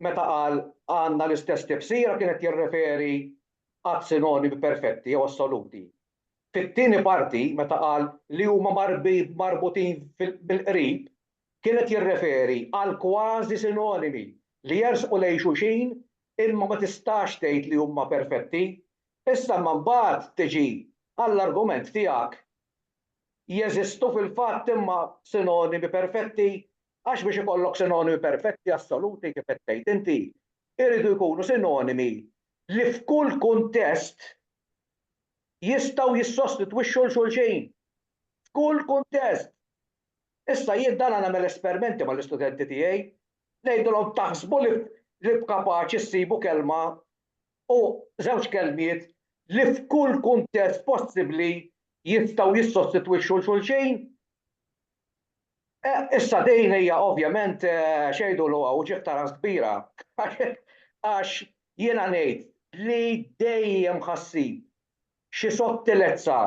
meta qal għandna l-istess tifsira kien qed jirreferi għas-sinonimi perfetti jew assoluti. Fit-tieni parti meta qal li huma marbutin bil-qrib kien qed jirreferi għal kważi sinonimi li jersqu lejn xulxin imma ma tistax tgħid li huma perfetti. Issa imma mbagħad tiġi għall-argument tiegħek, jeżistu fil-fatt imma sinonimi perfetti għax biex ikollok sinonimi perfetti assoluti kif qed tgħid inti, iridu jkunu sinonimi li f'kull kuntest jistgħu jissostitwixxu 'l xulxin. F'kull kuntest! Issa jien dana nagħmel espermenti mal-istudenti tiegħi, ngħidilhom taħsbu li li b'kapaċi ssibu kelma u żewġ kelmiet li f'kull kuntest possibbli jistgħu jissostitwixxu 'l xulxin? Eh, issa din hija ovvjament x'jgħidulu hawn ġieħ ta' ras kbira għax jiena ngħid li dejjem ħa ssib xi sottilezza,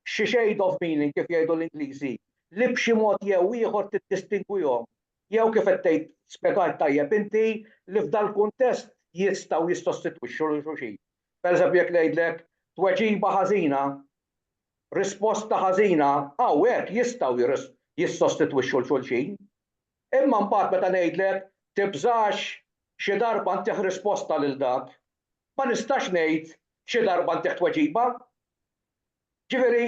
xi shade of meaning kif jgħidu l-Ingliżi, li b'xi mod jew ieħor tiddistingwihom, jew kif qed tgħid, spjegajt tajjeb inti, li f'dal-kuntest jistgħu jissostitwixxu lil xulxin. Pereżempju jekk ngħidlek, tweġiba ħażina, risposta ħażina, hawnhekk jistgħu jissostitwixxu lil xulxin. Imma mbagħad meta ngħidlek, tibżax, xi darba ntih risposta lil dak, ma nistax ngħid xi darba ntih tweġiba. Ġifieri,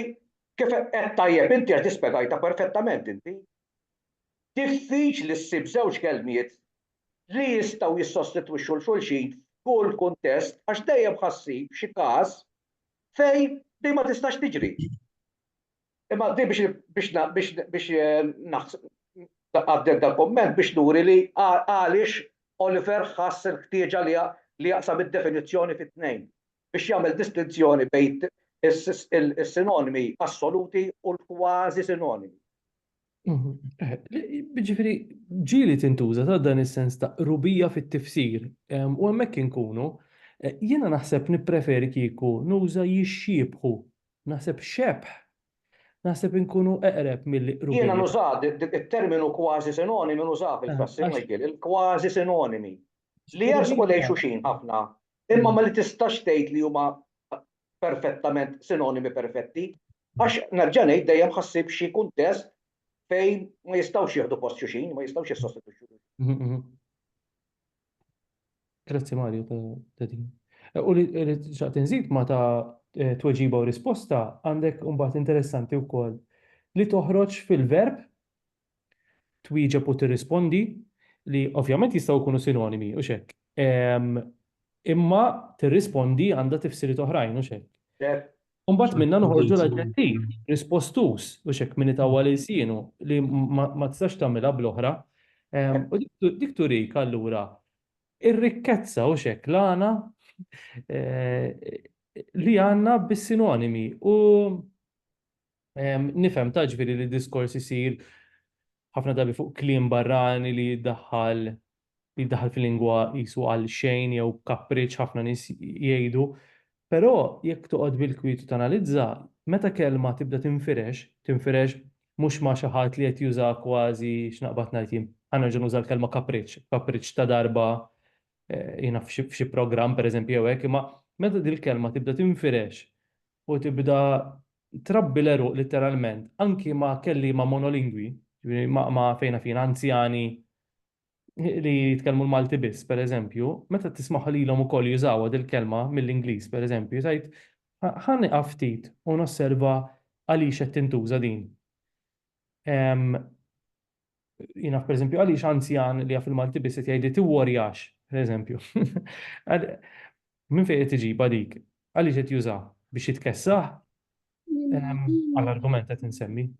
kif għedt tajjeb inti għax di spjegajtha perfettament inti, diffiċli ssib żewġ kelmiet li jistgħu jissostitwixxu 'l xulxin f'kull kuntest għax dejjem ħa ssib xi każ fejn di ma tistax tiġri. Imma din biex biex na- biex biex eh, naħs- għaddet dal komment biex nuri li għal- għaliex Oliver ħass il-ħtieġa li ja- li jaqsam id-definizzjoni fi tnejn biex jagħmel distinzjoni bejn is- il- is-sinonimi assoluti u l-kważi sinonimi. Mhm. Eh, li- Ġifiri, ġili tintuża ta' dan is-sens ta' rubija fit-tifsir. Em, U hemmhekk inkunu, eh, jiena naħseb nippreferi kieku nuża jixxiebħu Naħseb xebh! Naħseb inkunu eqreb milli qrubija. Jiena nużat it-terminu kważi sinonimi nużah fil-klassi, Michael, il-kważi sinonimi, li jersqu lejn xulxin ħafna, imma ma li tistax tgħid li huma perfettament sinonimi perfetti, għax, nerġa' ngħid, dejjem ħassib xi kuntest fejn ma jistgħux jieħdu post xulxin, ma jistgħux jissostitwixxu lil xulxin. Grazzi Mario ta' ta' din. Eh, U li li xaqt inżid ma ta' eh, tweġiba u risposta għandek imbagħad interessanti wkoll li toħroġ fil-verb twieġeb u tirrispondi li ovvjament jistgħu jkunu sinonimi u xek. Ehm, Imma tirrispondi għandha tifsiriet oħrajn u xek. Cer, U mbagħad minna noħorġu l-aġġettiv, rispostus, u xek minni tawwa li sienu li ma tistax tagħmilha bl-oħra. Ehm, u dik turik allura ir-rikkezza u xek l-għana eh, li għanna bis-sinonimi u ehm, nifhem taġviri li diskors isir ħafna dabi fuq klim barrani li daħħal jiddaħħal fil-lingwa qisu għalxejn jew b'kapriċċ ħafna nies jgħidu. Però jekk toqgħod bil-kwiet u tanalizza, meta kelma tibda tinfirex, tinfirex mhux ma' xi ħadd li qed jużaha kważi, x'naqbad ngħid jien, ħa nerġa' nuża l-kelma kapriċċ, kapriċċ ta' darba jien naf f'xi programm pereżempju jew hekk, imma meta dil-kelma tibda tinfirex u tibda trabbi l-għeruq litteralment anki ma' kelliema monolingwi, jiġifieri ma' fejna fina anzjani li jitkellmu l-Malti biss, per eżempju, meta tismaħ lilhom ukoll jużawha dil-kelma mill-Ingliż, per eżempju, tgħid ħa nieqaf ftit u nosserva għaliex qed tintuża din. Jiena per eżempju għaliex anzjan li jaf il-Malti biss qed jgħidli tiwworjax, per eżempju. Minn fejn qed iġibha dik? Għaliex qed juża biex jitkessaħ? Għal argument qed insemmi.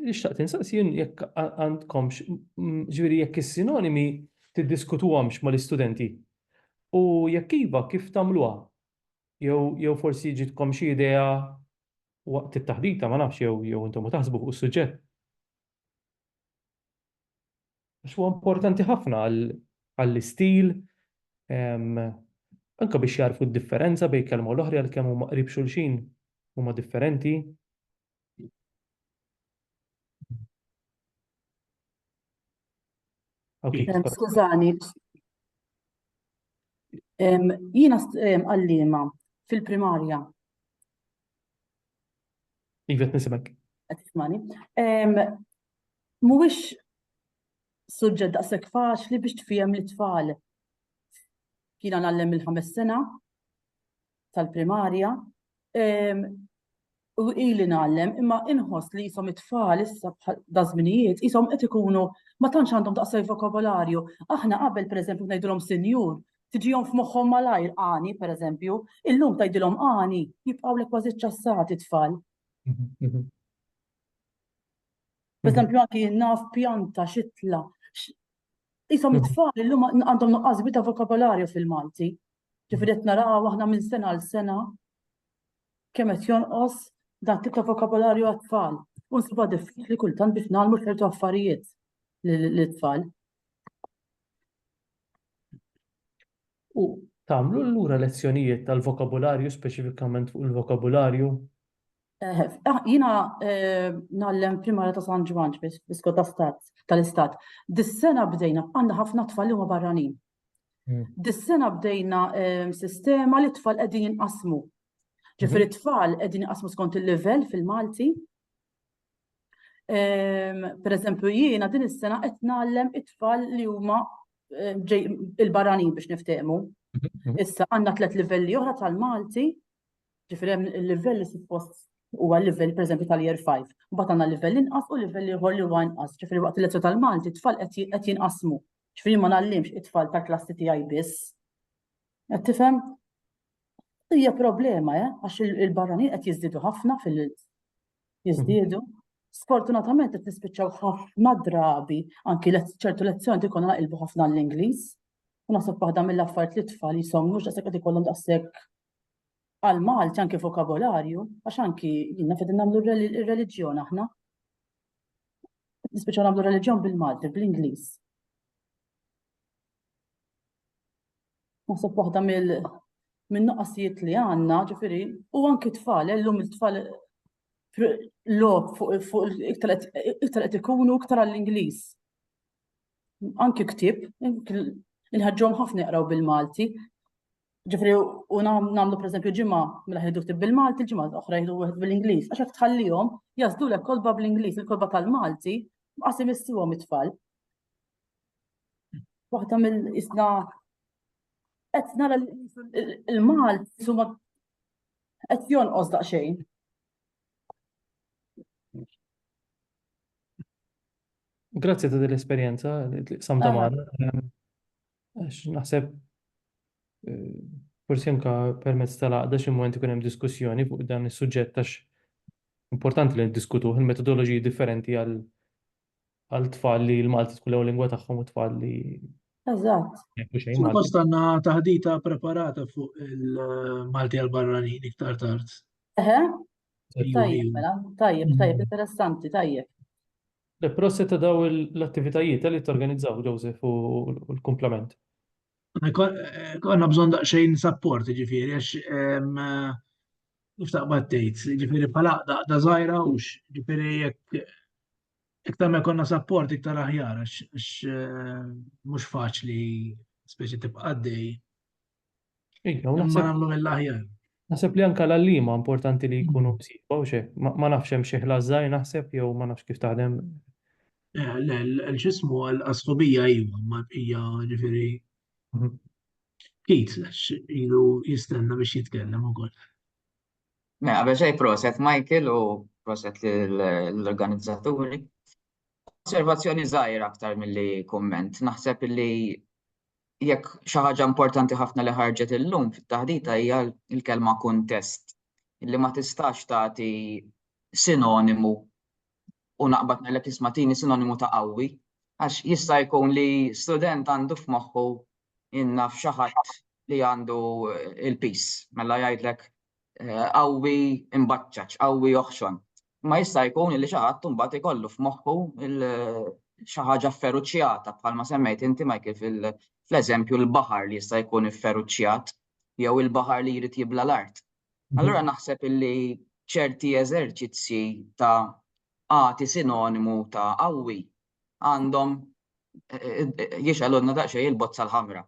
li xtaqt insaqsi jien jekk għandkomx, ġviri jekk is-sinonimi tiddiskutuhomx mal-istudenti. U jekk iva, kif tagħmluha? Jew forsi ġitkom xi idea waqt it-taħdita, ma nafx jew intom taħsbu fuq is-suġġett. Għax huwa importanti ħafna għall-istil, anke biex jarfu d-differenza bejn kelma u l-oħra għalkemm huma qrib xulxin huma differenti. Skużani, jiena għalliema fil-primarja Iva, nisimek. Tismani. Mhuwiex suġġett daqshekk faċli biex tfihem li tfal kiena nallem il-ħames sena tal-primarja u ili nallem imma inħoss li jisom it-tfal issa dażminijiet jisom qed ikunu ma tantx għandhom daqsaj vokabolarju. Aħna qabel pereżempju ngħidulhom sinjur tiġihom f'moħħhom malajr Għani, pereżempju, illum tgħidilhom Għani, jibqgħulek kważi ċċassati t-tfal. Pereżempju anki naf pjanta, xitla, Isom it-tfal illum għandhom nuqqas ta' vokabolarju fil-Malti. Ġifieri qed naraw aħna minn sena għal sena kemm qed jonqos dan tip ta' vokabolarju għat-tfal. U nsibha diffiċli kultant biex nagħmlu ċertu affarijiet lit-tfal. U tagħmlu allura lezzjonijiet tal-vokabularju speċifikament fuq il-vokabularju? Eh, ah, jina eh, nallem primara ta' San Ġwanġ biskot tal-istat. Dis-sena bdejna, għanna ħafna tfal li huma barranin. Hmm. Dis-sena bdejna eh, sistema li tfal qegħdin jinqasmu. Ġifieri mhm. tfal qegħdin jinqasmu skont il-livell fil-Malti, Per eżempju, jiena din is-sena qed nagħallem it-tfal li huma il-barranin biex niftehmu. Mhm. Issa għandna tliet livelli oħra tal-Malti, ġifieri hemm il-livell li suppost huwa l-livell pereżempju tal-year 5. Mbagħad għandna livell inqas u livell ieħor li huwa inqas. Ġifieri waqt il-lezzjoni tal-Malti tfal qed jinqasmu. Ġifieri ma nagħallimx it-tfal tal-klassi tiegħi biss. Qed tifhem? Hija problema, eh, għax il-barranin qed jiżdiedu ħafna fil jiżdiedu. Sfortunatament qed nispiċċaw ħafna drabi anki ċertu lezzjoni ikun naqilbu ħafna l-Ingliż. U naħseb waħda mill-affarijiet li tfal jisom mhux daqshekk qed ikollhom daqshekk għal Malti anki vokabolarju, għax anki jiena fedin nagħmlu r-reliġjon aħna. Nispiċċaw nagħmlu reliġjon bil-Malti, bl-Ingliż. Naħseb waħda mill min-nuqqasijiet li għandna, ġifieri, u anki tfal, illum il-tfal log fuq iktar qed ikunu iktar għall-Ingliż. Anki ktieb, inħeġġhom ħafna jaqraw bil-Malti. Ġifieri u nagħmlu pereżempju ġimgħa mela ħidu ktieb bil-Malti, ġimgħa oħra jieħdu wieħed bil-Ingliż. Għax hekk tħallihom jażdulek kotba bl-Ingliż, il-kotba tal-Malti, qas imissiwhom it-tfal. waħda mill-isna qed nara l-mal suma qed jonqos daqsxejn. Grazzi ta' dell-esperjenza li samta magħna. Għax naħseb eh, forsi anka permezz tal-għaqda xi moment ikun hemm diskussjoni fuq dan is-suġġett għax importanti li niddiskutuh il-metodoloġiji differenti għal għal tfal li l-Malti tkun l-ewwel lingwa tagħhom u tfal li Eżatt. Suppost għandna taħdita preparata fuq il-Malti għal barranin iktar tard. Eħe. Tajjeb, mela, tajjeb, mm. tajjeb, interessanti, tajjeb. Le proset ta' daw l-attivitajiet eh, li t-organizzaw, Joseph, u l-komplement. Għanna eh, bżon daqxejn support, ġifiri, għax kif taqbad tgħid, ġifieri bħala daqda żgħira hux, ġifieri jekk iktar ma jkollna sapport iktar aħjar għax eh, mhux faċli speċi tibqa' għaddej. Iva, ma nagħmlu mill-aħjar. Naħseb li anka l-għallima importanti li jkunu mm. msiba u xek, ma nafx hemm xi ħlażżaj naħseb jew ma nafx kif taħdem. Eh, l-ġismu għal-asħobija iva, ma hija ġifieri mhm. Pit, ilu jistenna biex jitkellem u koll. Ne, għabel xej proset Michael u proset l-organizzaturi. Osservazzjoni zaħir aktar mill-li komment. Naħseb li jekk xaħġa importanti ħafna li ħarġet il-lum fit-taħdita hija l-kelma kontest li ma tistax tagħti sinonimu u naqbad nellek ismatini sinonimu ta' qawwi għax jista' jkun li student għandu f'moħħu jien naf xi ħadd li għandu il-pis, mela jgħidlek eh, qawwi imbaċċaċ, qawwi oħxon. Ma jista' jkun li xi ħadd imbagħad ikollu f'moħħu xi ħaġa fferuċjata bħalma semmejt inti Michael fl-eżempju l-baħar li jista' jkun ifferuċjat jew il-baħar li jrid jibla l-art. Mhm. Allura naħseb illi ċerti eżerċizzji ta' għati sinonimu ta' qawwi għandhom jixgħalulna daqsxejn il-bozza l-ħamra.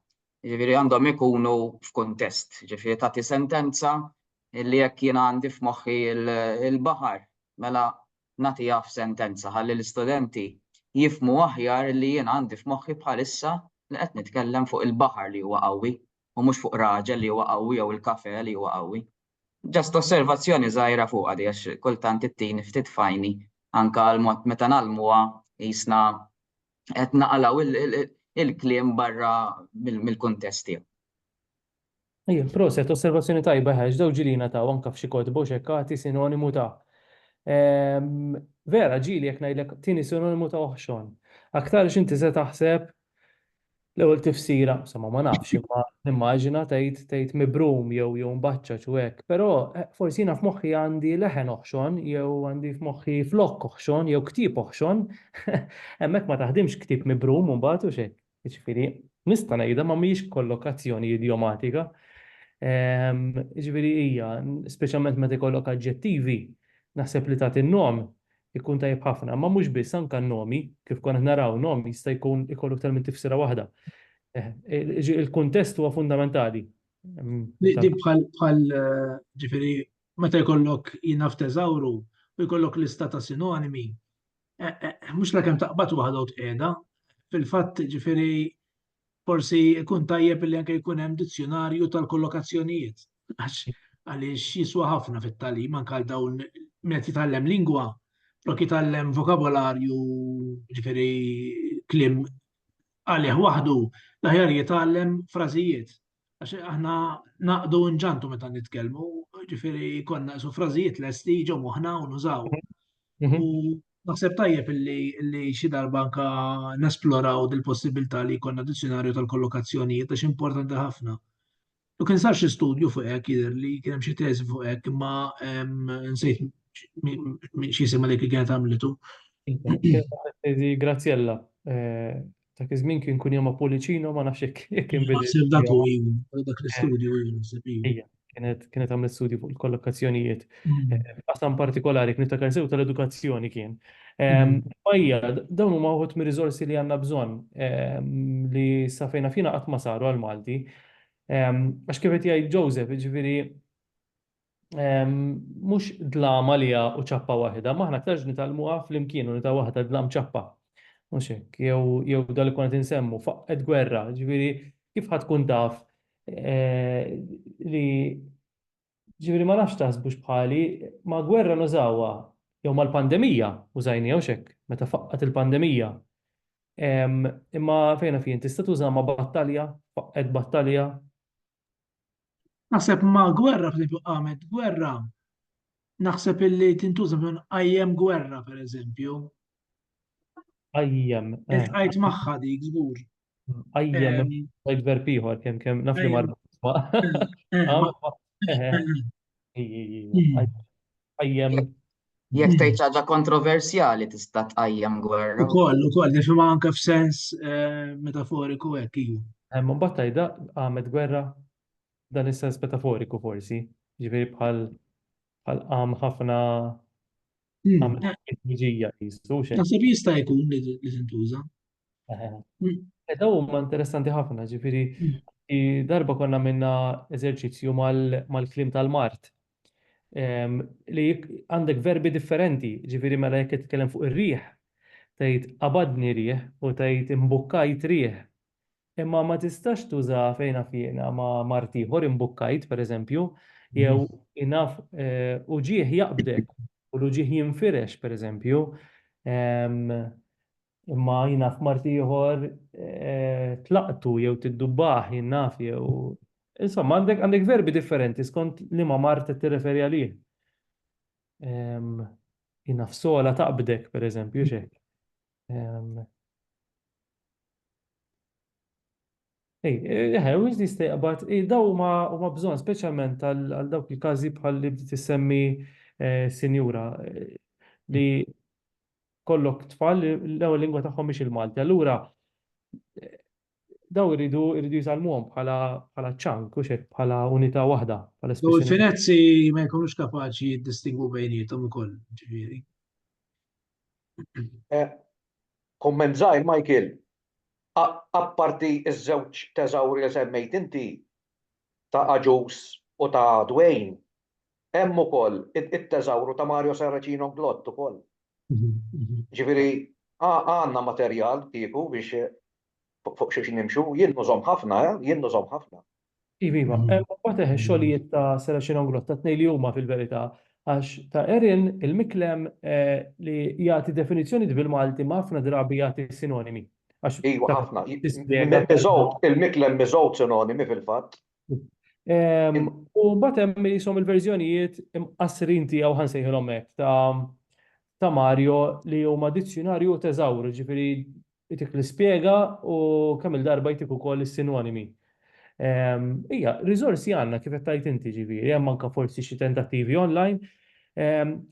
Ġifieri għandhom ikunu f'kuntest, ġifieri tagħti sentenza li jekk jien għandi f'moħħi l-baħar, mela nagħtiha f'sentenza ħalli l-istudenti jifhmu aħjar li jien għandi f'moħħi bħalissa li qed nitkellem fuq il-baħar li huwa qawwi u mhux fuq raġel li huwa qawwi jew il-kafè li huwa qawwi. Just osservazzjoni żgħira fuqha di għax kultant ittini ftit f'għajni anke l-mod meta ngħallmuha qisna qed naqalgħu il-kliem barra mill-kuntest tiegħu. Ejja, proset, osservazzjoni tajba għax dawn ġieli jingħataw anke f'xi kotba u x'hekk agħti sinonimu ta'. Vera, ġieli jekk ngħidlek tieni sinonimu ta' oħxon. Aktarx inti se taħseb L-ewwel tifsira, insomma ma nafx, imma nimmaġina tgħid tgħid mibrum jew jew mbaċċaġ u hekk, però forsi jiena f'moħħi għandi leħen oħxon jew għandi f'moħħi flokk oħxon jew ktieb oħxon, hemmhekk ma taħdimx ktieb mibrum u mbagħad hux hekk. Jiġifieri nista' ngħidha ma mhijiex kollokazzjoni idjomatika. Jiġifieri hija, speċjalment meta jkollok aġġettivi, naħseb li tagħti n-nom Ikun tajjeb ħafna, imma mhux biss, anke n-nomi, kif konna qed naraw, nom jista' jkun ikollu iktar minn tifsira waħda. Il-kuntest huwa fundamentali. Di bħal, ġifieri, meta jkollok jingħad teżawru u jkollok lista ta' sinonimi, mhux sakemm taqbad waħda u tqiegħda, fil-fatt, ġifieri, Forsi jkun tajjeb li anke jkun hemm dizzjonarju tal-kollokazzjonijiet, għax għaliex jiswa ħafna fit-tagħlim anke għal dawn min qed jitgħallem lingwa, flok jitgħallem vokabolarju ġifieri kliem għalih waħdu, l-aħjar jitgħallem frażijiet Għax aħna naqdu nġantu meta nitkellmu, ġifiri konna su frażijiet lesti ġo moħna u nużaw. Mhm. U naħseb tajjeb li xi darba anka nesploraw dil-possibilità li konna dizzjonarju tal-kollokazzjonijiet għax importanti ħafna. U kien sar xi studju fuq hekk jidher li kien hemm xi teżi fuq hekk imma nsejt xi sema li kien kienet għamlitu. Grazzjella eh, Dak iż-żmien kien kun jom Apulicino ma nafx jekk jekk kien bidel. Naħseb dak u ilu, dak l-istudju ilu naħseb ilu. Ija, kienet kienet għamlet studju fuq il-kollokazzjonijiet. Qasam partikolari kien niftakar sew tal-edukazzjoni kien. Ija, dawn huma wħud mir-riżorsi li għandna bżonn li sa fejn naf jiena qatt ma saru għall-Malti. Għax kif qed jgħid Joseph, jiġifieri mhux dlam għaliha u ċappa waħda, ma aħna aktarx nitgħallmuha flimkien u nitgħu waħda dlam ċappa. Mhux hekk, jew dan li kont insemmu, faqqet gwerra, ġifieri kif ħadd tkun taf eh, li ġifieri ma nafx taħsbux bħali ma gwerra nużawha jew mal-pandemija użajni jew xek meta faqqat il-pandemija. Imma fejna fien tista' tuża ma' battalja, faqqet battalja, Naħseb ma' gwerra, f'eżempju, qamet gwerra, naħseb illi tintuża minn qajjem gwerra, per eżempju. Qajjem. Qajt eh. magħha dik, żgur. Qajjem, qajt verb ieħor, kemm kemm naf li marbu. Qajjem. Jekk tgħid xi ħaġa kontroversjali tista' tqajjem gwerra. Ukoll, ukoll, nifhimha anke f'sens eh, metaforiku hekk ilu. Hemm imbagħad tgħidha qamet gwerra dan is-sens metaforiku forsi, ġifieri bħal bħal qam ħafna hmm. qamet ħafna qisu xejn. Naħseb jista' jkun li tintuża. Hmm. E daw huma interessanti ħafna, ġifieri hmm. darba konna minna eżerċizzju mal-klim tal-Mart li għandek verbi differenti, ġifiri mela jekk titkellem fuq ir-riħ, tgħid qabadni riħ u tgħid imbukkajt riħ. Imma ma tistax tuża fejn naf jiena ma' mart ieħor imbukkajt pereżempju, jew mhm. inaf eh, uġieħ jaqbdek u l-uġieħ jinfirex pereżempju. Imma jien naf mart ieħor tlaqtu jew tiddubbaħ jien naf jew insomma għandek għandek verbi differenti skont liema mard qed tirreferi għalih. Ehm, jien naf sola taqbdek pereżempju x'hekk. Ehm, Ej, eħe, u jizdi stejqbat, daw huma huma bżonn speċjalment għal dawk il-każi bħal li bdiet issemmi eh, sinjura eh, li kollok tfal li l-ewwel lingwa tagħhom mhix il-Malti. Allura daw iridu iridu jisalmuhom bħala bħala ċank u xek bħala unità waħda. U l-Finezzi ma jkunux kapaċi jiddistingwu bejnietom ukoll, ġifieri. Eh, Komment żgħir Michael, apparti ż-żewġ teżawri li semmejt inti ta' Aġus u ta' Dwayne, Hemm ukoll it-teżawru ta' Mario Saracino Glott ukoll. Jiġifieri għandna materjal kieku biex fuq xiex nimxu. Jien nużhom ħafna, eh, jien nużhom ħafna. Iva, iva. Hemm ukoll ix-xogħlijiet ta' Saracino Glott, tat-tnejn li huma fil-verità, għax ta' Erin il-Miklem li jagħti definizzjonijiet bil-Malti ma ħafna drabi jagħti sinonimi. Iva, ħafna. Iżgħodd, il-Miklem iżgħodd sinonimi fil-fatt. U mbagħad hemm jisom il-verżjonijiet imqassrin tiegħu ħansejħilhom hekk ta' ta' Mario li huma dizzjunarju teżawr, ġifieri jtik l-ispjega u kemm il-darba jtik ukoll is-sinonimi. Ija, riżorsi għandna kif qed tgħid inti ġifieri, hemm anke forsi xi tentattivi online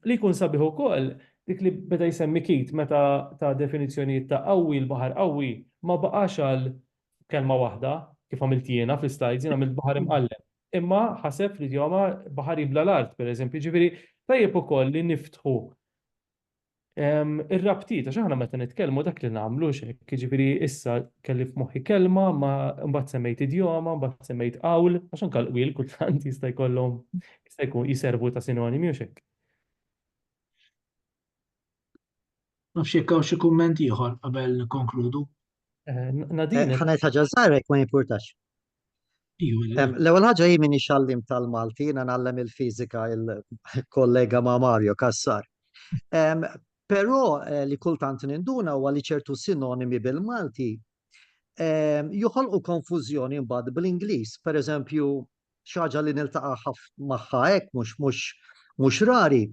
li jkun sabiħ ukoll dik li beda jsemmi Keith meta ta' definizzjonijiet ta' qawwi, l-baħar qawwi ma baqax għal Kelma waħda, kif għamilt jiena fl-islajd, jien għamilt baħar imqalleb. Imma ħaseb fl-idjoma baħar jibla' l-art, pereżempju. Jiġifieri, tajjeb ukoll li niftħu r-rabtiet, għax aħna meta nitkellmu dak li nagħmlu, hux hekk? Jiġifieri, issa kelli f'moħħi kelma, imma mbagħad semmejt idjoma, mbagħad semmejt qawl, għax anke l-qwiel kultant jista' jkollhom, jista' jkun, jiservu ta' sinonimi, hux hekk? Nafx jekk hawn xi kumment ieħor qabel nikkonkludu. Eh, Nadine. Eh, Ħanajt ħaġa żgħirek ma jimpurtax. L-ewwel ħaġa hi minni xallim tal-Malti, jiena nagħllem il-fiżika il-kollega ma' Mario Kassar. Però eh, li kultant ninduna huwa li ċertu sinonimi bil-Malti joħolqu konfużjoni mbagħad bl-Ingliż. Pereżempju, xi ħaġa li niltaqa' magħha hekk mhux rari.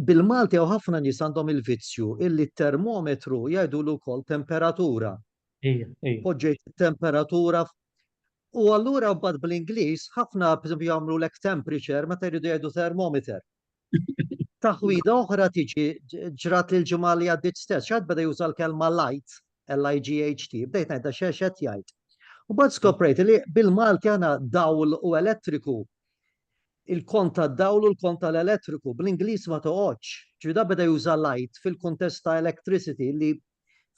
Bil-Malti hawn ħafna nies għandhom il-vizzju illi t-termometru jgħidulu wkoll temperatura. Poġġejt it-temperatura u allura mbagħad bl-Ingliż ħafna pereżempju jagħmlulek temperature meta jridu jgħidu thermometer. Taħwida oħra tiġi ġrat li l-ġimgħa li għaddiet stess, xaħat beda juża l-kelma light, L-IGHT, bdejt ngħid da xex qed jgħid. U bad skoprejt li bil-Malti għana dawl u elettriku il-kont ta' dawl u l-kont tal-elettriku, bl-Inglis ma toqgħodx. Ġvida beda juża light fil-kuntest ta' electricity li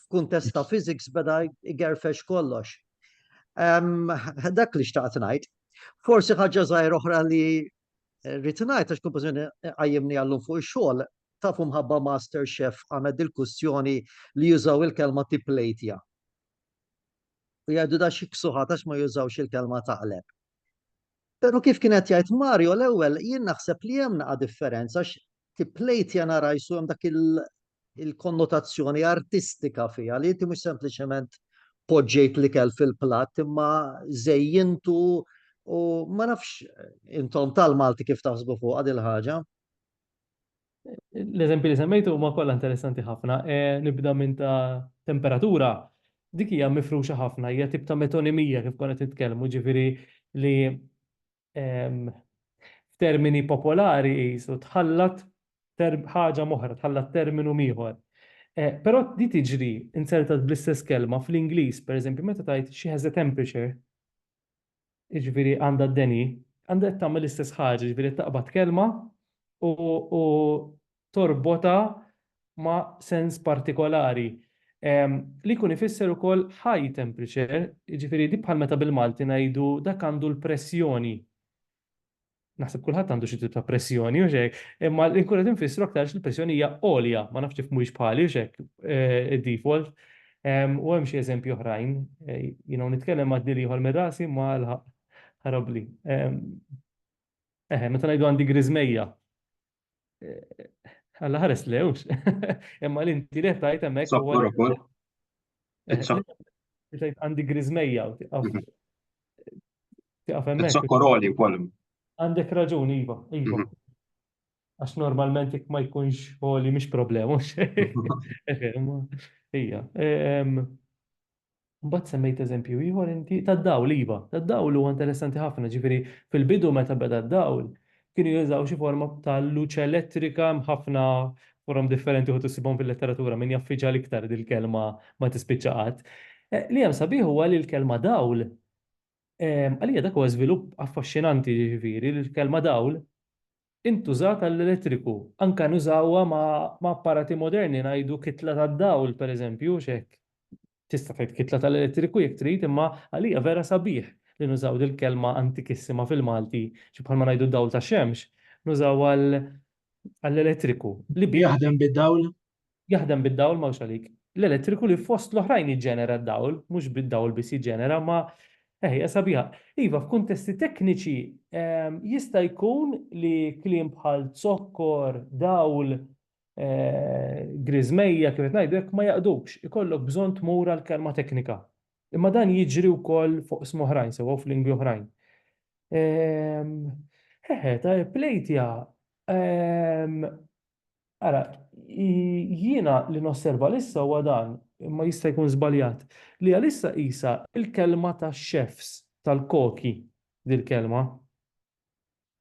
f'kuntest ta' physics beda jgerfex kollox. Dak li xtaqt ngħid. Forsi ħaġa żgħir oħra li Rrid ngħid għax kumpożizzjoni qajjimni għallum fuq ix-xogħol, tafu mħabba Master Chef għandna dil-kustjoni li jużaw il-kelma tipplejtja. U jgħidu da xi ksuħat għax ma jużawx il-kelma taqleb. Però kif kien qed jgħid Mario l-ewwel jien naħseb li hemm naqa' differenza għax tipplejtja nara jsu hemm dak il-konnotazzjoni artistika fiha li inti mhux sempliċement poġġejt l-ikel fil-platt imma żejjintu u ma nafx intom tal-Malti kif taħsbu fuq għad il-ħaġa. L-eżempji li semmejtu huma kollha interessanti ħafna. E, nibda minn ta' temperatura, dik hija mifruxa ħafna, hija tip ta' metonimija kif konet nitkellmu, ġifieri li f'termini popolari qisu tħallat ħaġa m'oħra, tħallat terminu m'ieħor. Però di tiġri insertat bl-istess kelma fl-Ingliż, pereżempju, meta tgħid she has a temperature, jiġifieri għandha d-deni, għandha qed tagħmel l-istess ħaġa, jiġifieri qed taqbad kelma u torbotha ma' sens partikolari li jkun ifisser ukoll high temperature, jiġifieri di bħal meta bil-Malti ngħidu dak għandu l-pressjoni. Naħseb kulħadd għandu xi tip ta' pressjoni u xejn, imma li nkun qed infissru aktar li l-pressjoni hija għolja, ma nafx kif mhuwiex bħali u xek eh, id-default. U hemm xi eżempji oħrajn, eh, jiena nitkellem ma' dil ieħor minn rasi ma l-ħarabli. Eħe, meta ngħidu għandi griżmejja, Alla ħares lewx. Imma li inti li tajt hemmhekk. Sokkor ukoll. Tajt għandi griżmejja u tiqaf. Mhm. Tiqaf hemmhekk. Sokkor oli wkoll. Għandek raġun, iva, iva. Mhm. Għax normalment jekk ma jkunx oli mhix problema. Ija. Mbagħad semmejt eżempju ieħor inti tad-dawl iva, tad-dawl huwa interessanti ħafna, ġifieri fil-bidu meta beda d-dawl kienu jużaw xi forma ta' luċ elettrika hemm ħafna forom differenti uħud issibhom fil-letteratura min jaf iġa' l-iktar dil-kelma ma tispiċċa qatt. Eh, li hemm sabiħ huwa li l-kelma dawl eh, għalija dak huwa żvilupp affaxxinanti ġifieri li l-kelma dawl intużat għall-elettriku, anke nużawha ma' apparati moderni, ngħidu kitla tad-dawl, pereżempju, hux hekk? Tista' tgħid kitla tal-elettriku jekk trid, imma għalija vera sabiħ li nużaw dil-kelma antikissima fil-Malti, xi bħalma ngħidu dawl tax-xemx, nużaw għall-elettriku li bih. Jaħdem bid-dawl, Jaħdem bid-dawl m'hawnx għalik. L-elettriku li fost l-oħrajn jiġġenera d-dawl, mhux bid-dawl biss jiġġenera, ma eh hija sabiħa. Iva, f'kuntesti tekniċi ehm, jista' jkun li kliem bħal zokkor, dawl, eh, griżmejja kif qed ngħidu hekk ma jaqdux, ikollok bżonn tmur għal kelma teknika. Imma dan jiġri wkoll fuq sm oħrajn sewwa f'lingwi oħrajn. Ehm, Hehe, ta' plejtja. Ehm, Ara, jiena li nosserva lissa huwa dan, imma jista' jkun żbaljat, li għalissa qisha l-kelma tax-chefs, tal-koki, dil-kelma.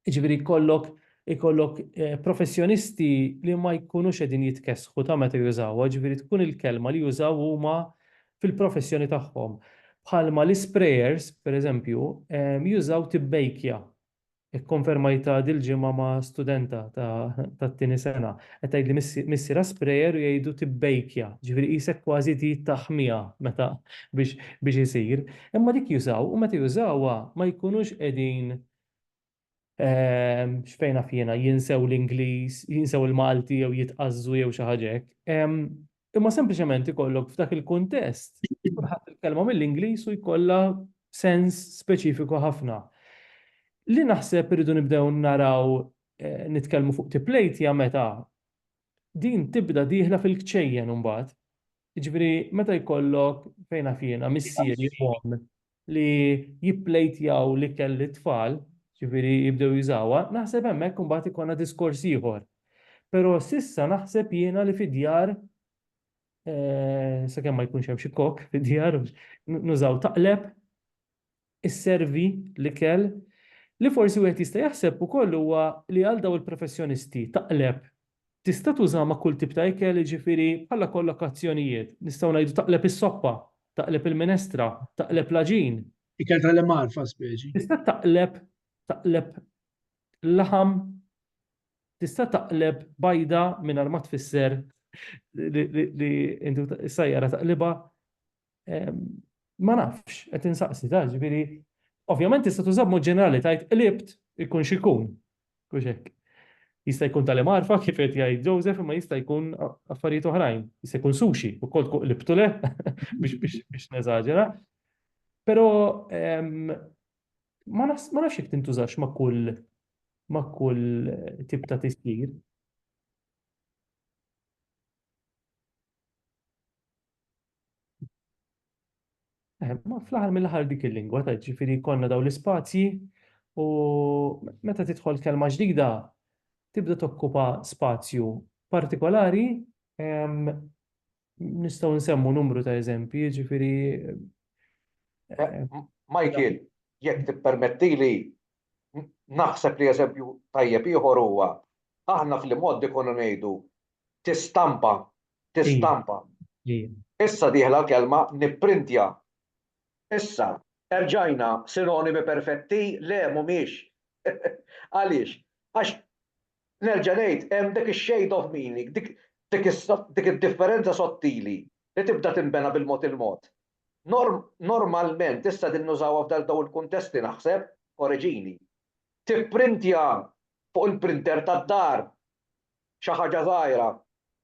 Jiġifieri jkollok ikollok professjonisti li ma jkunux qegħdin jitkessħu ta' meta jużawha, jiġifieri tkun il-kelma li jużaw huma fil-professjoni tagħhom. Bħalma l-isprejers, pereżempju, jużaw tibbejkja, Ikkonfermajtha dil-ġimgħa ma' studenta tat-tieni sena. Qed tgħidli missi ra sprayer u jgħidu tibbejkja, jiġifieri qisek kważi trid taħmiha meta biex isir. Imma dik jużaw u meta jużawha ma jkunux qegħdin x'fejn naf jiena jinsew l-Ingliż, jinsew il-Malti jew jitqażżu jew xi ħaġa hekk. Imma sempliċement ikollok f'dak il-kuntest tkun ħadt il-kelma mill-Ingliż u jkollha sens speċifiku ħafna. Li naħseb irridu nibdew naraw eh, nitkellmu fuq tiplejtja meta din tibda dieħla fil-kċejjen imbagħad. Jiġifieri meta jkollok fejn naf jiena missieri u li jipplejtjaw l-ikel lit-tfal, jiġifieri jibdew jużawha, naħseb hemmhekk imbagħad ikollna diskors ieħor. Però s'issa naħseb jiena li fid-djar, sakemm ma jkunx hemm xi kok fid-djar, nużaw taqleb, isservi l-ikel. Li forsi wieħed jista' jaħseb ukoll huwa li għal dawn il-professjonisti, taqleb Tista' tuża ma' kull tip ta' ikel, jiġifieri bħala kollokazzjonijiet, nistgħu ngħidu taqleb is-soppa, taqleb il-minestra, taqleb l-għaġin. Ikel tal-imgħar fa' speċi. Tista' taqleb taqleb laħam, tista' taqleb bajda mingħajr ma tfisser li li li inti u is-sajjara taqlibha, Ma nafx, qed insaqsi ta' ġifieri. Ovvjament tista' tuża b'mod ġenerali tajt qlibt ikun x'ikun. Kux hekk. Jista' jkun tal marfa kif qed jgħid Joseph imma jista' jkun affarijiet oħrajn. Jista' jkun sushi ukoll tkun qlibtu le biex neżaġera. Però ma nafx jekk tintużax ma' kull ma' kull tip ta' tisjir. Eh, ma fl-aħħar mill-aħħar dik il-lingwa ta' ġifieri konna daw l-ispazji u meta tidħol kelma ġdida tibda tokkupa spazju partikolari nistgħu nsemmu numru ta' eżempji, ġifieri eh, eh, Michael, jekk tippermettili naħseb li eżempju tajjeb ieħor huwa aħna fl-imgħoddi konna ngħidu tistampa, tistampa. Issa dieħla l-kelma nipprintja. Issa, erġajna sinonimi perfetti? Le, mhumiex. Għaliex? Għax, nerġa' ngħid, hemm dik ix-shade of meaning, dik id-differenza sottili li tibda tinbena bil-mod il-mod. Normalment, issa qegħdin nużawha f'dan dawn il-kuntesti, naħseb, koreġini. Tipprintja fuq il-printer tad-dar, xi ħaġa żgħira.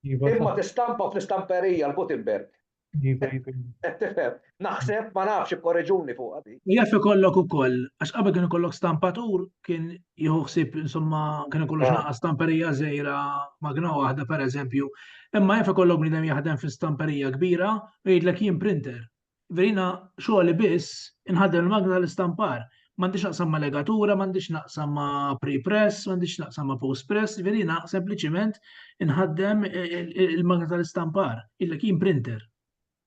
Imma tistampa fl-istamperija l-Gutenberg. Qed tifhem? Naħseb, ma nafx, ikkoreġuni fuqha din. Jaf ikollok ukoll, għax qabel kien ikollok stampatur, kien jieħu ħsieb insomma kien ikollok naqa' stamperija żgħira magna waħda pereżempju. Imma jaf ikollok bniedem jaħdem fi stamperija kbira u jgħidlek jien printer. Verina, Xogħli biss, inħaddem il-magna tal-istampar. M'għandix x'naqsam ma' legatura, m'għandix x'naqsam ma' pre-press, m'għandix x'naqsam ma' post-press, verina sempliċiment inħaddem il-magna tal-istampar. Jgħidlek jien printer.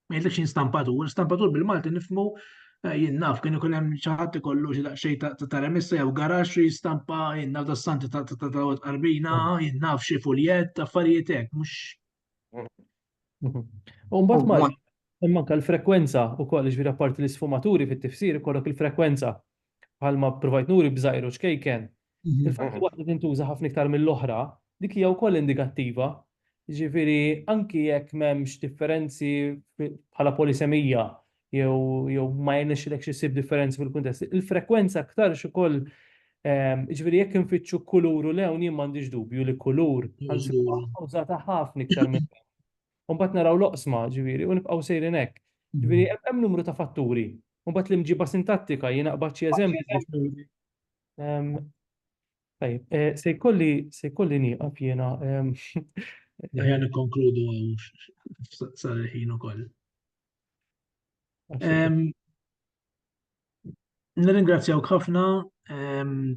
Ma jgħidlekx jien stampatur, stampatur bil-Malti nifmu eh, jien naf kien ikun hemm xi ħadd ikollu xi daqsxejn ta' remissa jew garax li jistampa jien naf dassanti ta' ta' qarbina, jien naf xi fuljett, affarijiet hekk, mhux U mbagħad ma hemm anke l-frekwenza wkoll jiġifieri apparti l-isfumaturi fit-tifsir ikollok il-frekwenza bħalma provajt nuri b'żgħir u ċkejken. Mhm. Il-fatt li waħda tintuża ħafna iktar mill-oħra, dik hija wkoll indikattiva. Jiġifieri anki jekk m'hemmx differenzi bħala polisemija jew jew ma jirnexxilekx issib differenzi fil-kuntest. Il-frekwenza aktarx ukoll ġifieri jekk infittxu kulur u lewn jien m'għandix dubju li kulur użata ħafna iktar minn Mbagħad naraw l-oqsma ġifieri u nibqgħu sejrin hekk. Ġifieri hemm numru ta' fatturi. Mbagħad l-imġiba sintattika jien aqbad xi eżempji. Tajjeb, se jkolli se jkolli nieqaf jiena. Aħjar nikkonkludu hawn sal-ħin ukoll. Nirringrazzjawk ħafna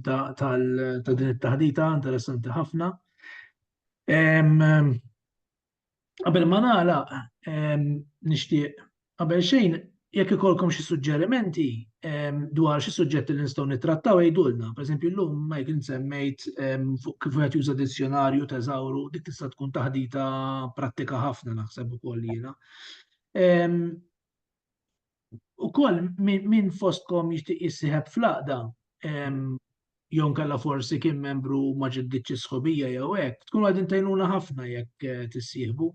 ta' din it-taħdita interessanti ħafna. Qabel ma nagħlaq nixtieq qabel xejn jekk ikollkom xi suġġerimenti dwar xi suġġetti li nistgħu nittrattaw għidulna. Pereżempju llum Michael insemmejt fuq kif wieħed juża dizzjonarju teżawru dik tista' tkun taħdita prattika ħafna naħseb ukoll jiena. U koll minn fostkom jishtiq jissiħeb fl-aqda, jon kalla forsi kien membru maġeddiċi sħobija jew hekk, tkun għadin tajnuna ħafna jekk eh, tissieħbu.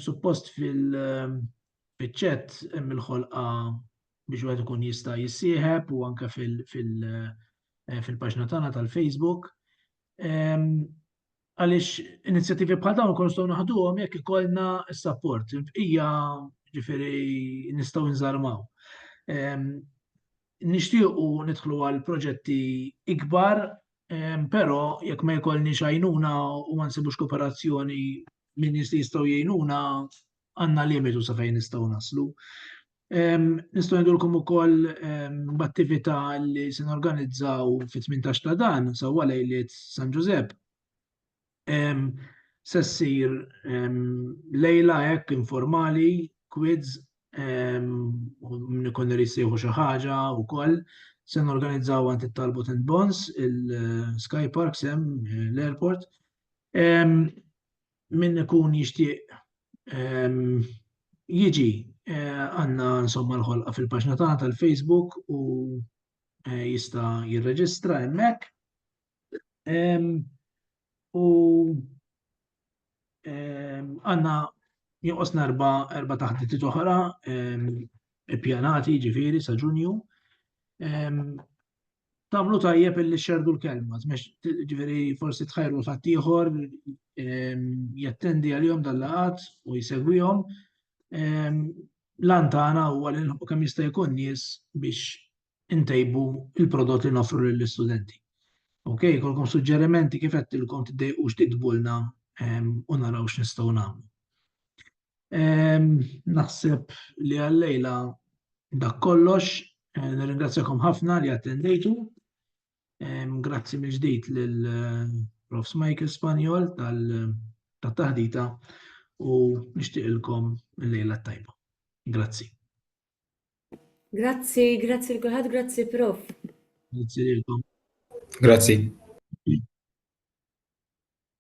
Suppost fil-ċet hemm il-ħolqa biex wieħed ikun jista' jissieħeb u anke eh, fil-paġna tagħna tal-Facebook. Għaliex inizjattivi bħal dawn ikun nistgħu naħduhom jekk ikollna s-sapport. Il-bqija ġifieri nistgħu nżarmaw. Ehm, nixtiequ nidħlu għal proġetti ikbar, ehm, però jekk ma jkollni xajnuna u ma nsibux kooperazzjoni minn nies li jistgħu jgħinuna għandna limitu sa fejn nistgħu naslu. Nistgħu ngħidulkom ukoll b'attività li se norganizzaw fit-18 ta' dan sewwa lejliet San Ġużepp. Se ssir lejla hekk informali, quiz, min ikun irid jsejħu xi ħaġa wkoll. Se norganizzaw għand it-Talbot and Bonds, il-Sky Parks hemm l-airport. Min ikun jixtieq jiġi għandna insomma l-ħolqa fil-paġna tagħna tal-Facebook u jista' jirreġistra hemmhekk. U għandna jonqos narba erba' taħditiet oħra ippjanati ġifieri sa Ġunju. Tamlu tajjeb illi xerdu l-kelma, ġveri forsi tħajru l-ħattijħor, ehm, jattendi għal-jom dal-laqat u jisegwijom. Ehm, Lantana u għal u kam jista' jkun nies biex intejbu il-prodott li nofru lill-istudenti. Ok, kolkom suġġerimenti kif qed tilkom tiddejqux titbulna ehm, u naraw x'nistgħu nagħmlu. Naħseb li għallejla dak kollox, eh, nirringrazzjakom ħafna li attendejtu. Grazzi mill ġdid lil eh, Prof. Michael Spanjol tal-taħdita u nixtieqilkom il-lejla tajba. Grazzi. Grazzi, grazzi l-kulħadd, grazzi Prof. Grazzi lilkom. Grazzi.